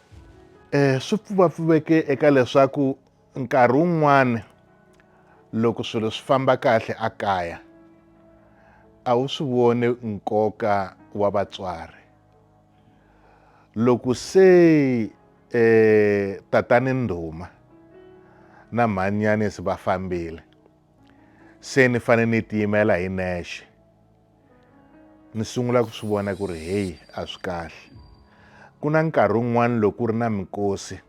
[SPEAKER 1] um swi
[SPEAKER 2] pfuvapfuveke eka leswaku nkarhi wun'wani loko swilo swi famba kahle a kaya a wu swi voni nkoka wa vatswari loko se eh, tatani ndhuma na mhanyanisi va fambile se ni fanele ni tiyimela hi nexe ni sungula ku swi vona ku ri heyi a swi kahle ku na nkarhi wun'wana loko ku ri na mikosi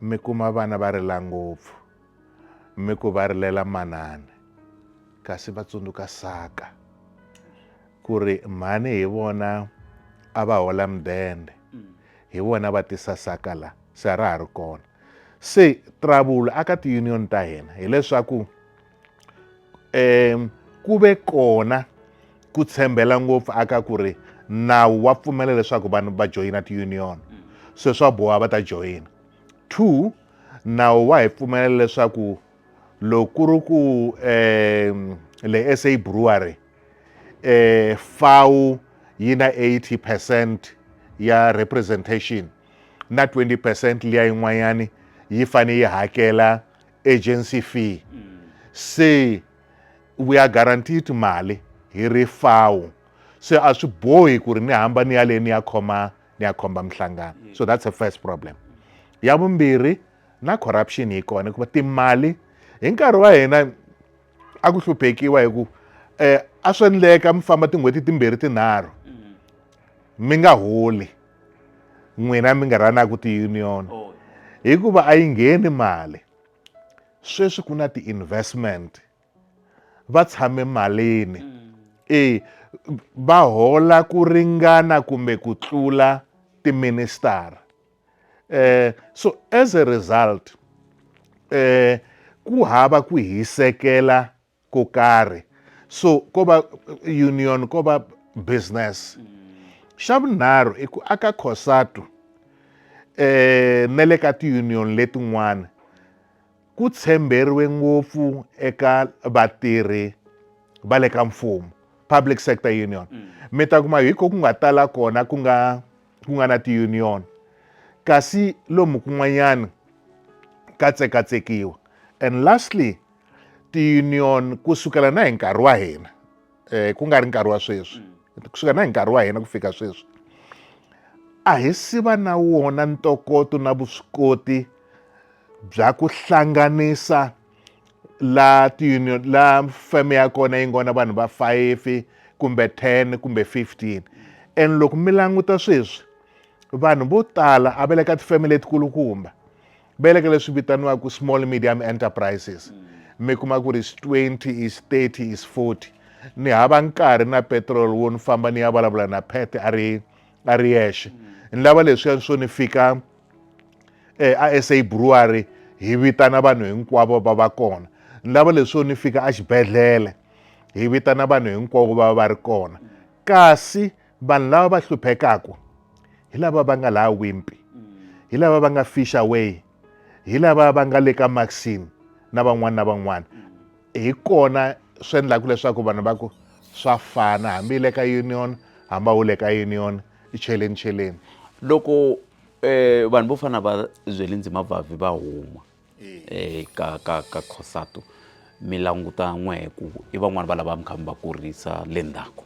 [SPEAKER 2] mi kuma vana va rila ngopfu mi ku va rilela manana kasi va tsundzuka saka ku ri mhani hi vona a va hola mudende hi vona va tisa saka la se a ra ha ri kona se trouble aka ti-union ta hina hileswaku um ku ve kona ku tshembela ngopfu aka ku ri nawu wa pfumela leswaku vanhu va joyina ti-union se swa boha va ta joyina two nawu wa hi pfumelela leswaku loko ku ri ku um le sa brewery eh, fau yi na 80 percent ya representation na 20 percent liya yin'wanyani yi fane yi hakela agency fee se we are guaranteed mali hi ri fau se a swi bohi ku ri ni hamba ni ya le ni ya khoma ni ya khomba mihlangano so that's a first problem ya vumbirhi na corruption yi kona hikuva timali hi nkarhi wa hina a ku hluphekiwa hi ku um eh, a swi endleka mi famba tin'hweti timbirhi tinharhu mm-hmm. mi nga holi n'wina mi nga rhanaku ti-union oh. hikuva a yi ngheni mali sweswi ku na ti-investment va tshame malini mm. e va hola ku ringana kumbe ku tlula tiministara eh, so as a result eh, ku hava ku hisekela ko karhi so ko va union ko va business mm. xa vunharhu i ku aka cosatu eh na le ka tiunion letin'wana ku tshemberiwe ngopfu eka vatirhi va le ka mfumo public sector union mm. mi ta kuma hi ko ku nga tala kona ku nga ku nga na ti-union kasi lomu kun'wanyana ka tsekatsekiwa and lastly ti-union ku sukela na hi nkarhi wa hina um ku nga ri nkarhi wa sweswi kusuka na hi nkarhi wa hina ku fika sweswi a hi si va na wona ntokoto na vuswikoti bya ku hlanganisa la tiunion la feme ya kona yi ngona vanhu va 5 kumbe 10 kumbe 15 and loko mi languta sweswi vanhu vo tala a va le ka tifeme letikulukumba vele ka leswi vitaniwaka small medium enterprises mi kuma ku ri is 20 is 30 is 40 ni hava nkarhi na petrol wo ni famba ni ya vulavula na pet a ri a ri yexe ni lava leswiya swo ni fika um a sa brewery hi vitana vanhu hinkwavo va va kona ni lava leswo ni fika exibedhlele hi vitana vanhu hinkwavo va va ri kona kasi vanhu lava va hluphekaku hi lava va nga laha wimpi hi lava va nga fish away hi lava va nga le ka maxine na van'wana na van'wana hi kona swi endlaka leswaku vanhu va ku swa fana hambi le ka union hambi a wu le ka union i cheleni cheleni loko
[SPEAKER 1] um vanhu vo fana va zweli ndzima vavi va huma e ka ka ka Cosatu mi languta n'we hi ku i van'wani va lava mi kha mi va kurisa le ndzhaku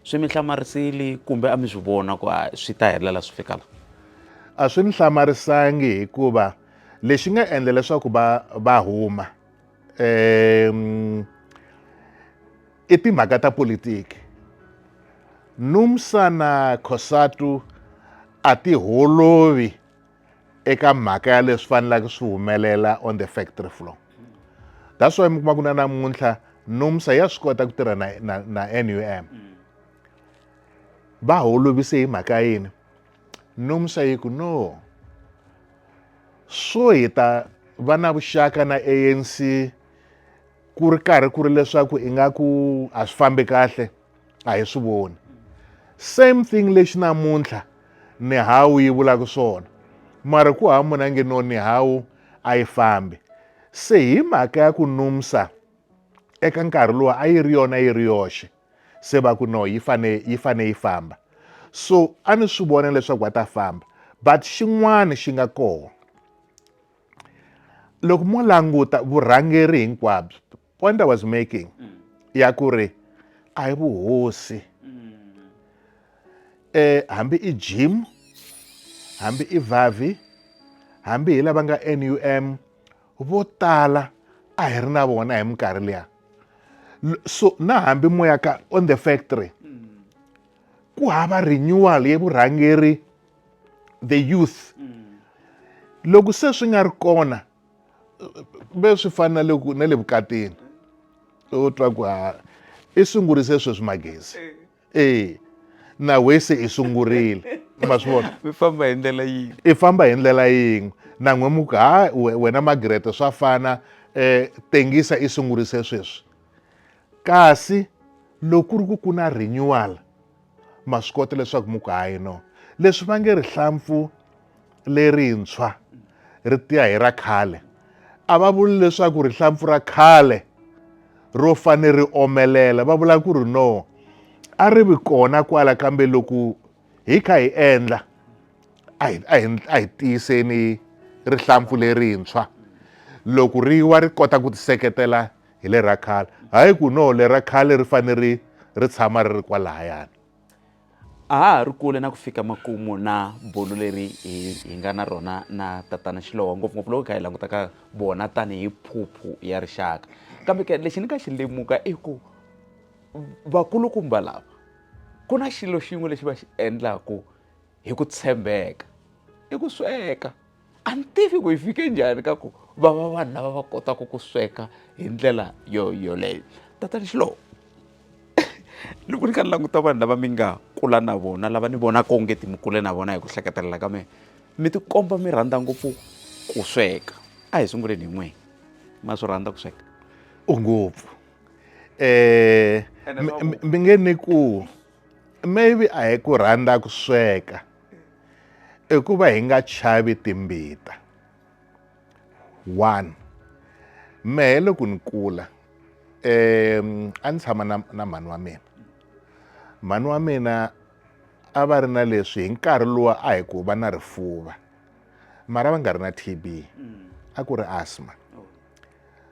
[SPEAKER 1] swi mi hlamarisile kumbe a mi swi vona ku a swi ta helela swi fika la a swi
[SPEAKER 2] ni hlamarisangi hikuva lexi nga endla leswaku va va huma um i timhaka ta politiki numsana khosatu a ti holovi eka mhaka ya leswi faneleke swi humelela on the factory floor that's why mi kuma ku na namuntlha nomsa ya swi kota ku tirha na, na, na num va holovise hi mhaka yini nomsa yi ku no swo hi ta va na vuxaka na anc ku ri karhi ku ri leswaku ingaku a swi fambi kahle a hi swi voni same thing lexi namuntlha nihawu yi vulaka swona mara ku hava munhu a nge no nihawu a yi fambi se hi mhaka ya ku numsa eka nkarhi lowu a yi ri yona yi ri yoxe se va ku no yi fane yi fane yi famba so a ni swi vona leswaku va ta famba but xin'wana xi nga kona loko mo languta vurhangeri hinkwabyo point i was making mm. ya ku ri a hi vuhosi mm. eh hambi i gym hambi i vavi hambi hi lava nga NUM vo tala a hi ri na vona hi minkarhi liya so na hambi moya ka on the factory ku hava renewal ye vurhangeri the youth loko se swi nga ri kona ve swi fana na ku na le vukatini u twa ku ha i sungurise sweswi magezi e na wese i sungurile ma swi vona mi famba hi ndlela
[SPEAKER 1] yin'we i famba hi ndlela
[SPEAKER 2] yin'we na n'we mu ku ha wena magrete swa fana um tengisa i sungurise sweswi kasi loko ku ri ku ku na renewal ma swi kota leswaku mi ku hayi no leswi va nge rihlampfu lerintshwa ri tiya hi ra khale a va vuli leswaku rihlampfu ra khale ro fane ri omelela va vula ku ri no a ri vi kona kwala kambe loko hi kha hi endla a hi a hi a hi tiyiseni rihlampfu lerintshwa loko ri wa ri kota ku tiseketela hi le ra khale hayi ku no le ra khale ri fane ri ri tshama ri ri kwalayani
[SPEAKER 1] a ha ha ri kule na ku fika makumu na bulo leri hi hi nga na rona na tatana xilowa ngopfungopfu loko hi kha hi languta ka vona tanihi phuphu ya rixaka kambe ke lexi ni nga xi lemuka i ku vakulukumba lava ku na xilo xin'we lexi va xi endlaku hi ku tshembeka i ku sweka a ni tivi ku yi fike njhani ka ku va va vanhu lava va kotaka ku sweka hi ndlela yo yoleyo tatani xilowo loko ni kha ni languta vanhu lava mi nga kula na vona lava ni vonaka onge ti mi kule na vona hi ku hleketelela ka mina mi tikomba mi rhandza ngopfu ku sweka a hi sunguleni hi n'wini ma swi rhandza ku sweka ngopfu
[SPEAKER 2] um mi nge ni ku maybe a hi ku rhandza ku sweka i ku va hi nga chavi timbita one mehe loko ni kula um a ni tshama na, na mhani wa mina mhani wa mina a va ri na leswi hi nkarhi lowa a hi ku va na rifuva mara va nga ri na tb a ku ri asma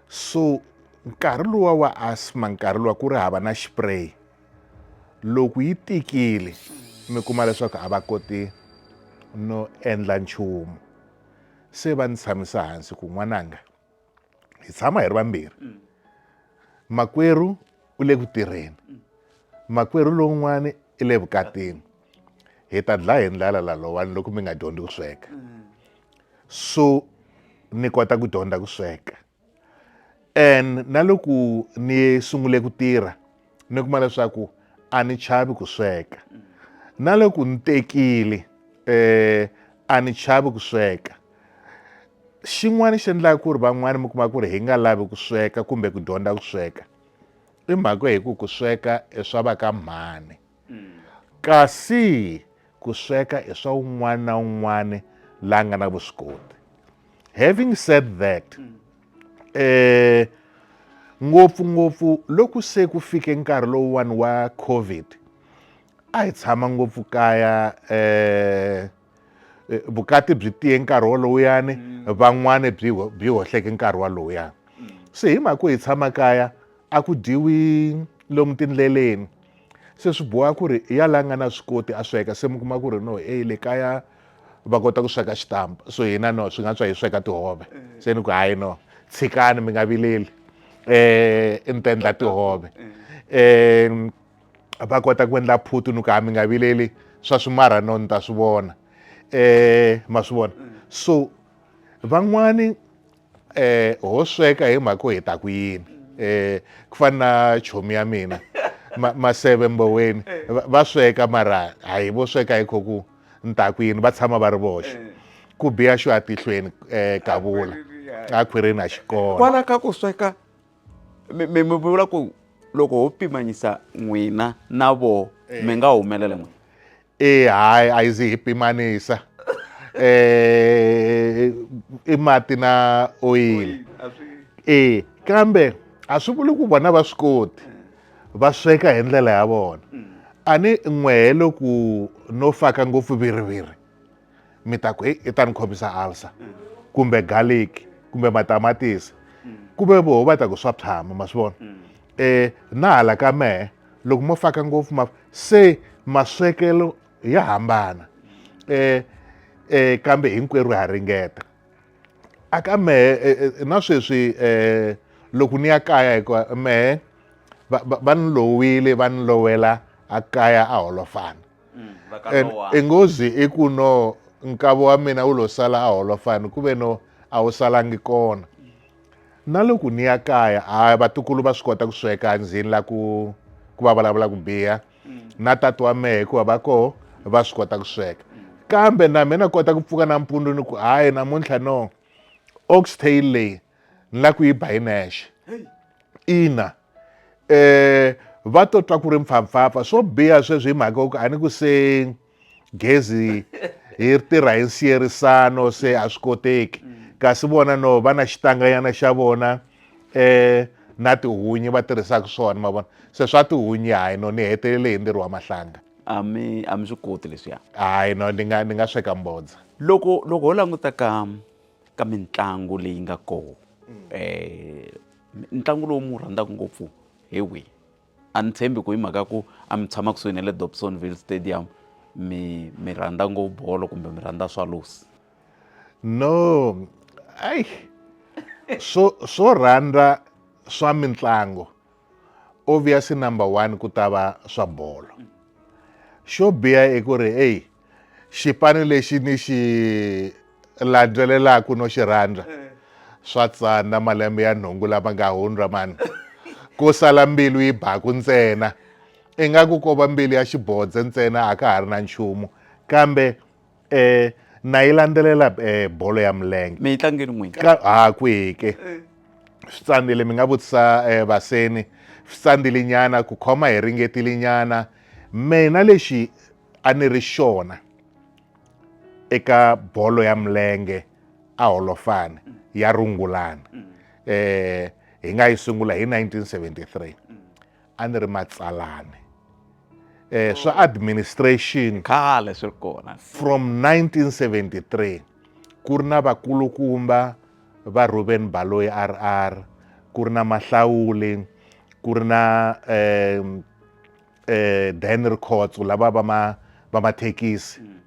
[SPEAKER 2] so nkarhi lowa wa asma nkarhi lowa ku ri hava na xipray loko yi tikile mi kuma leswaku a va koti no endla nchumu se va ni tshamisa hansi ku n'wananga hi tshama hi ri vambirhi mm. makwerhu u le ku tirheni mm. makwerhu lowun'wana i le vukatini hi ta dlaya hi ndlala lalowani loko mi nga dyondzi ku sweka mm. so ni kota ku dyondza ku sweka and na loko ni sungule ku tirha ni kuma leswaku a ni chavi ku sweka na loko ni tekile eh a ni chavi ku sweka xin'wana xi endlaka ku ri van'wana mi kuma ku ri hi nga lavi ku sweka kumbe ku dyondza ku sweka i mhaka hi ku ku sweka i swa va ka mhani Mm. Kasi ku sweka i swa un'wana na un'wana la nga na vuswikoti. Having said that, mm. eh ngopfungopfu loku se ku fike nkarhi lowuwani wa covid a hi tshama ngopfu kaya eh eh, vukati byi tiye nkarhi wolowuyani mm. van'wani byi byi hohleke nkarhi walowuyani mm. se hi mhaka ku hi tshama kaya a ku dyiwi lomu tindleleni se swi boha ku ri ya la nga na swi koti a sweka se mi kuma ku ri no e le kaya va kota ku sweka xitampa so hina no swi nga tswa hi sweka tihove eh. se ni ku hayi no tshikani mi nga vileli um eh, ni ta endla tihove um a va kota ku endla phutu ni ku ha mi nga vileli swa swimarha no ni ta swi vona um ma swi vona so van'wani um ho sweka hi mhaka ku hi ta ku yini um ku fana na chomi ya mina maseve mboweni va sweka mara a hi vo sweka hi kho ku ni ta ku yini va tshama va ri voxe ku biya xo atihlweni um kavula a khwirini a xikona kwala ka ku sweka
[SPEAKER 1] mi mi mi vula ku loko ho pimanyisa n'wina na vo eh. mi nga
[SPEAKER 2] humelela
[SPEAKER 1] n'wina e
[SPEAKER 2] hayi
[SPEAKER 1] a yi
[SPEAKER 2] zi hi
[SPEAKER 1] pimanisa
[SPEAKER 2] eh i mati na oyili e kambe a swi vuli ku vona va swi koti va sweka hi ndlela ya vona mm. a ni n'wehe loku no faka ngopfu viriviri mi ta ku heyi i ta ni khomisa alsa kumbe garlic kumbe matamatisi kumbe voho va ta ku swa tshama ma swi vona um eh, na hala ka mehe loko mo faka ngopfu ma se maswekelo ya hambana um um kambe hinkwerhu ha ringeta a ka mehe eh, na sweswi um loko ni ya kaya hikuva mehe va ni lowile va ni lowela a kaya a holofana Mm, engozi i ku no nkavo wa mina wu lo sala a holofani ku ve no a wu salangi kona na loko ni ya kaya a vatukulu va swi kota ku sweka ndzhini la ku ku va vulavula ku biha mm. na tati wa mehe hikuva va koho va swi kota ku sweka mm. kambe na mina kota ku pfuka nampundzu ni ku hayi namuntlha no oxtail leyi ni la ku yi ba yi nexe ina eh va to twa ku ri mpfhampfhampfa swo biha sweswi hi mhaka ku a ni ku se gezi hi tirha hi nsiyerisano se a swi koteki kasi vona no va na xitanganyana xa vona eh na tihunyi va tirhisaka swona ma vona se swa tihunyi hayi no ni hetelele hi ntirho wa mahlanga a mi a
[SPEAKER 1] mi swi koti leswiya hayi no ni nga
[SPEAKER 2] ni nga sweka mbodza loko loko ho
[SPEAKER 1] languta ka ka mitlangu leyi nga kona um ntlangu lowu mi wu rhandzaka ngopfu hi wihi a ni tshembi ku hi mhaka ya ku a mi tshama kusuhi na le dobsonville stadium mi mi rhandza ngo bolo kumbe mi rhandza swallows no
[SPEAKER 2] ai swo swo rhandza swa mitlangu obviously number one ku ta va swa bolo xo biha i ku ri eyi xipano lexi ni xi landzelelaka no xi rhandza eh. swa tsana malembe ya nhungu lama nga hundza mani ku sala mbilu yi baku ntsena ingaku ko va mbilu ya xibodze ntsena a ka ha ri na nchumu kambe um na yi landzelela um bolo ya milenge mi yi tlangeli n'wini
[SPEAKER 1] ha kwihike
[SPEAKER 2] eh. swi tsandzile mi nga vutisa um vaseni swi tsandzile nyana ku khoma hi ringetile nyana mina lexi a ni ri xona eka bolo ya milenge a holofani ya rungulani um hi nga yi sungula hi 1973 a ni ri matsalani um swa administration khale swi ri
[SPEAKER 1] kona from 1973
[SPEAKER 2] ku ri na vakulukumba va ruben baloyi r r ku ri na mahlawuli ku ri na um eh, Dan Rikhotso lava va ma va mathekisi mm.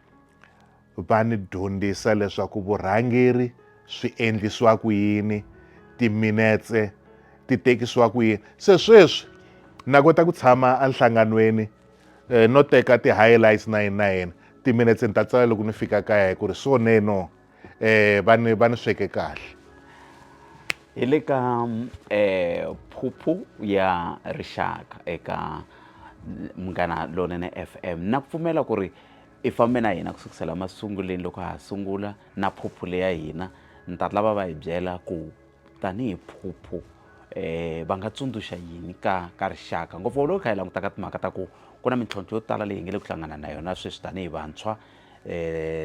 [SPEAKER 2] va ni dyondzisa leswaku vurhangeri swi endlisiwa ku yini timinetse ti tekisiwa ku yini se sweswi na kota ku tshama enhlanganweni eh, no teka ti-highlights na yini na yini timinetse ni ta tsala loko ni fika kaya hi ku ri so neno eh va ni va ni sweke kahle
[SPEAKER 1] hi le ka eh phuphu ya rixaka eka munghana lonene FM na pfumela ku ri i fambe na hina ku sukusela masunguleni loko ha sungula na phuphu leya hina ni ta lava va hi byela ku tanihi phuphu eh va nga tsundzuxa yini ka ka rixaka ngopfu loko hi kha hi languta ka timhaka ta ku ku na mintlhontlho yo tala leyi hi nga le ku hlangana na yona sweswi tanihi vantshwa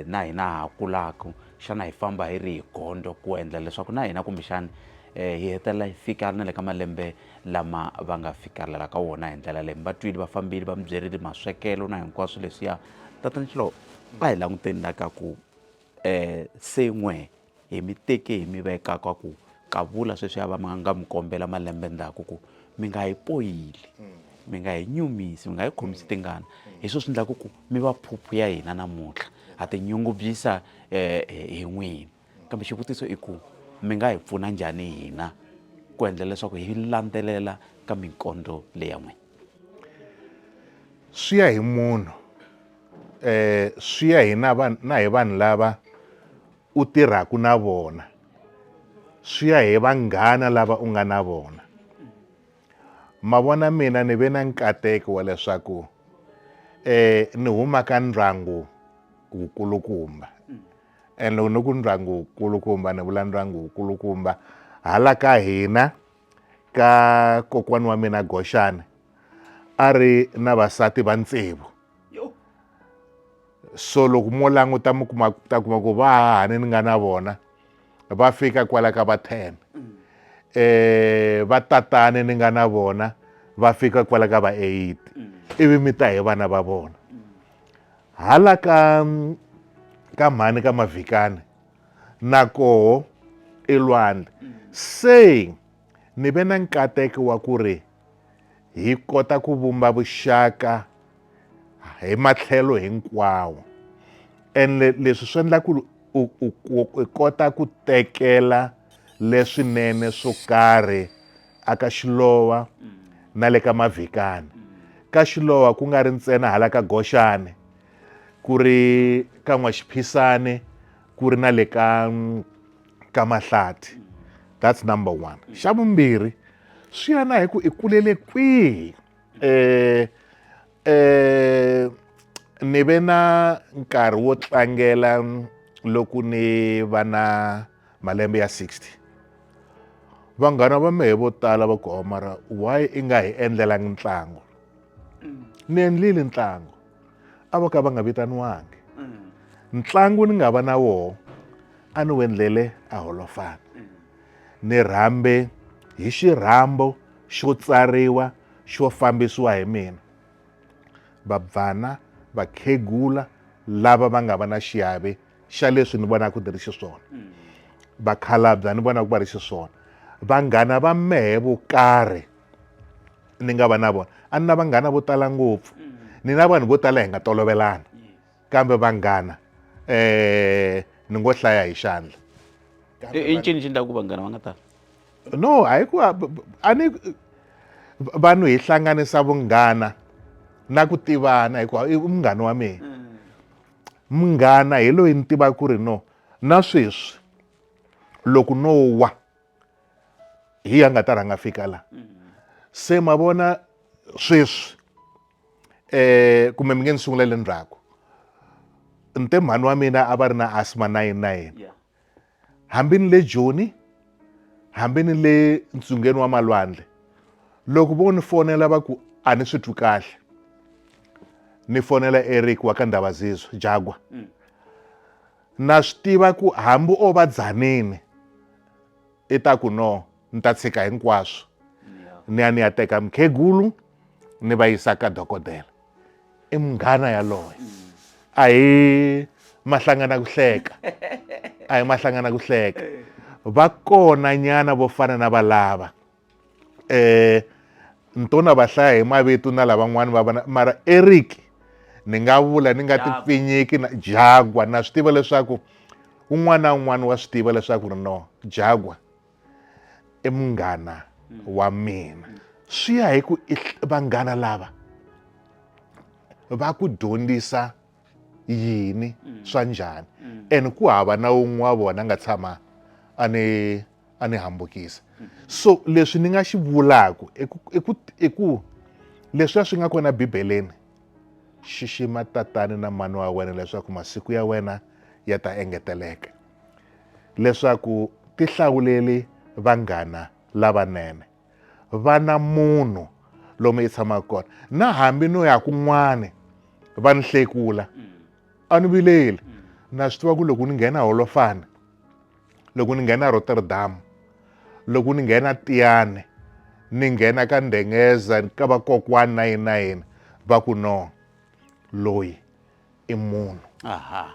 [SPEAKER 1] na hina ha kulaka xana hi famba hi ri hi gondzo ku endla leswaku na hina kumbexana hi hetelela hi fika na le ka malembe lama va nga fikelela ka wona hi ndlela leyi mi va twile va fambile va mi byerile maswekelo na hinkwaswo leswiya tatana xilo a hi languteni la ka ku um se n'we hi mi teke hi mi veka ka ku Kavula sweswiya va ma nga mi kombela malembe ndzhaku ku mi nga hi poyili mi nga hi nyumisi mi nga hi khomisi tingana hi sweswi swi endlaku ku mi va phuphu ya hina namuntlha ha tinyungubyisa um hi n'wina kambe xivutiso i ku mi nga hi pfuna njhani hina ku endla leswaku hi landzelela ka minkondlo leya n'wina
[SPEAKER 2] swi ya hi munhu um swi ya hi na na hi vanhu lava u tirhaka na vona swi ya hi vanghana lava u nga na vona ma vona mina ni ve na nkateko wa leswaku eh ni huma ka ndyangu wukulukumba and loko ni ku ndyangu wukulukumba ni vula ndyangu wukulukumba hala ka hina ka kokwana wa mina Goxani a ri na vasati va ntsevu yo so loko mo languta mi kuma ta kuma ku vahahani ni nga na vona va fika kwala ka va ten um eh, vatatani ni nga na vona va fika kwala ka va eight mm. ivi mi ta hi vana va vona mm. hala ka ka mhani ka mavhikani na koho elwandle mm. se ni ve na nkateko wa ku ri hi kota ku vumba vuxaka hi matlhelo hinkwawo ene leswi swi endla ku u kota ku tekela leswinene swo karhi aka xilowa na le ka mavhikani ka xilowa ku nga ri ntsena hala ka goxane ku ri ka n'waxiphisane ku ri na le ka ka mahlati that's number one xa vumbirhi swi ya na hi ku i kulele kwihi eh eh ni ve na nkarhi wo tlangela loko ni va na malembe ya 60 vanghana va mehe vo tala va ku mara why i nga hi endlelangi ntlangu ni endlile ntlangu a vo ka va nga vitaniwangi mm. ntlangu ni nga va na woho a ni wendlele a holofana mm. ni rhambe hi xirhambo xo tsariwa xo fambisiwa hi mina vabvana vakhegula lava va nga va na xiave xa leswi ni vonaka ni ri xiswona mm. vakhalabya ni vonaka va ri xiswona vanghana va mehe vo karhi ni nga va na vona a ni na vanghana vo tala ngopfu ni na vanhu vo tala hi nga tolovelana kambe vanghana um ni ngo hlaya hi xandla i
[SPEAKER 1] ncini xi endlaku vanghana va nga tala no a hi
[SPEAKER 2] ku a ni vanhu hi hlanganisa vunghana na ku tivana hikuva i munghana wa mina mm. munghana hi loyi ni tivaka ku ri no na sweswi loko no wa hi ya nga ta rhanga fika la se ma vona sweswi eh kumbe mi nge ni sungulele ndzhaku nte mhani wa mina a va ri na asma 99 hambi ni le joni hambi ni le ntsungeni wa malwandle loko vo ni fonela va ku a ni swi twi kahle ni fonela eric wa ka ndhavazizwe jagwa mm. Na swi tiva ku hambi o va dzanini i ta ku no ni ta tshika hinkwaswo ni ya ni ya teka mukhegulu ni va yisa ka dokodela i munghana yaloye a hi mahlangana ku hleka a hi mahlangana ku hleka va kona nyana vo fana na valava eh ni to na va hlaya hi mavitu na lavan'wana va vana mara eric ni nga vula ni nga ti pfinyiki na jagwa na swi tiva leswaku un'wana na un'wana wa swi tiva leswaku ri no jagwa i munghana mm. wa mina swi ya hi ku vanghana lava va ku dyondzisa yini mm. swa njhani mm. and ku hava na un'we wa vona nga tshama a ni a ni hambukisa mm. so leswi ni nga xi vulaku i ku leswiya swi nga kona bibeleni xixima tatani na mani wa wena leswaku masiku ya wena ya ta engeteleka leswaku ti hlawuleli vanghana lavanene va na munhu lomu yi tshamaka kona na hambi no ya kun'wani va ni hlekula a ni vileli na swi tiva ku loko ni nghena holofana loko ni nghena rotterdam loko ni nghena tiyane ni nghena ka ndengeza ka vakokwani na yini na yini va ku no loyi i munhu aha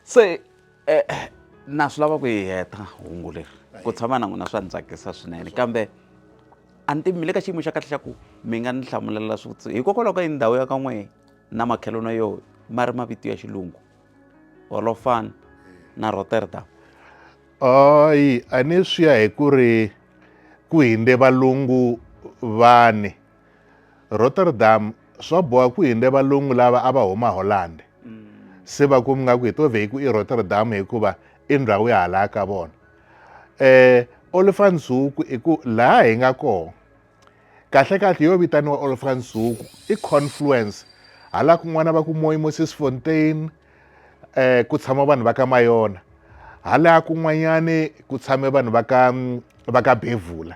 [SPEAKER 1] se eh, eh, na swi lava ku yi heta hungu leri ku tshama na n'wina swa ni tsakisa swinene kambe a ni tivi mi le ka xiyimo xa kahle xa ku mi nga ni hlamulela swivutiso hikokwalaho ka yi ndhawu ya ka n'wehe na makhelwano yo ma ri mavito ya xilungu holofan na rotterdam
[SPEAKER 2] ayi a ni swi ya hi ku ri ku hinde valungu vani Rotterdam swa boha ku hinde valungu lava a va huma Holland se va ku mi nga ku hi to vhe hi ku i Rotterdam hikuva i ndhawu ya halaya ka vona eh Olifantshuku i ku laha hi nga kona kahlekahle yo vitaniwa Olifantshuku i confluence hala kun'wana va ku moyi Moses Fontaine eh ku tshama vanhu va ka Mayona hala kun'wanyani ku tshame vanhu va ka va ka Bevula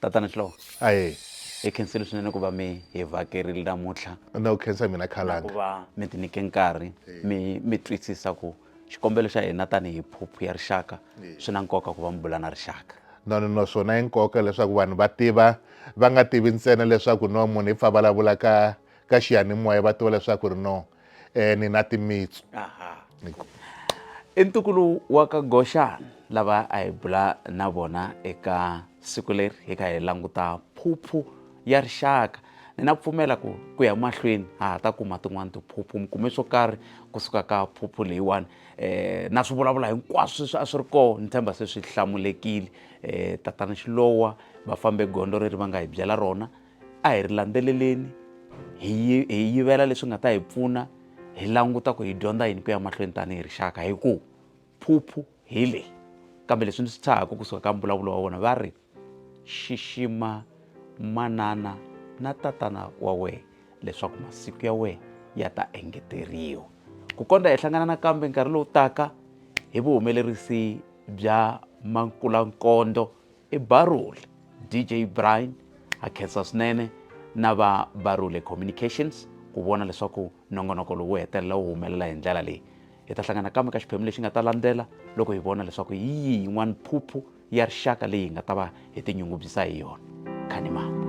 [SPEAKER 1] tatana xlovo aye hi
[SPEAKER 2] khensile
[SPEAKER 1] swinene ku va mi hi vakerile namuntlha na ku khensa mina
[SPEAKER 2] khalanga ku va
[SPEAKER 1] mi
[SPEAKER 2] ti nyike
[SPEAKER 1] nkarhi mi mi twisisa ku xikombelo xa hina tanihi phuphu ya rixaka swi na nkoka ku va mi bula na rixaka no no no swona i
[SPEAKER 2] nkoka leswaku vanhu va tiva va nga tivi ntsena leswaku no munhu i pfa vulavula ka ka xiyanimoya va tiva leswaku ri no um ni na timitsu
[SPEAKER 1] i ntukulu wa ka goxana lava a hi bula na vona eka siku leri hi kha hi languta phuphu ya rixaka ni na pfumela ku ku ya mahlweni ha ha ta kuma tin'wani tiphuphu mi kume swo karhi kusuka ka phuphu leyiwani um na swi vulavula hinkwaswo leswi a swi ri kona ni tshemba se swi hlamulekile um tatana xilowa va fambe gondzo reri va nga hi byela rona a hi ri landzeleleni hi hi yivela leswi nga ta hi pfuna hi languta ku hi dyondza yini ku ya mahlweni tanihi rixaka hi ku phuphu hi leyi kambe leswi ndzi swi tshahaka kusuka ka mbulavulo wa wona va ri xixima manana na tatana wa wena leswaku masiku ya wena ya ta engeteriwa ku kondza hi hlangana nakambe nkarhi lowu taka hi vuhumelerisi bya mankulankondlo i barule dj brian ha khensa swinene na va barule communications ku vona leswaku nongonoko lowu hetelela wu humelela hi ndlela leyi hi ta hlangana kambe ka xiphemu lexi nga ta landzela loko hi vona leswaku hi yihi yin'wana phuphu ya rixaka leyi hi nga ta va hi tinyungubyisa hi yona khanimani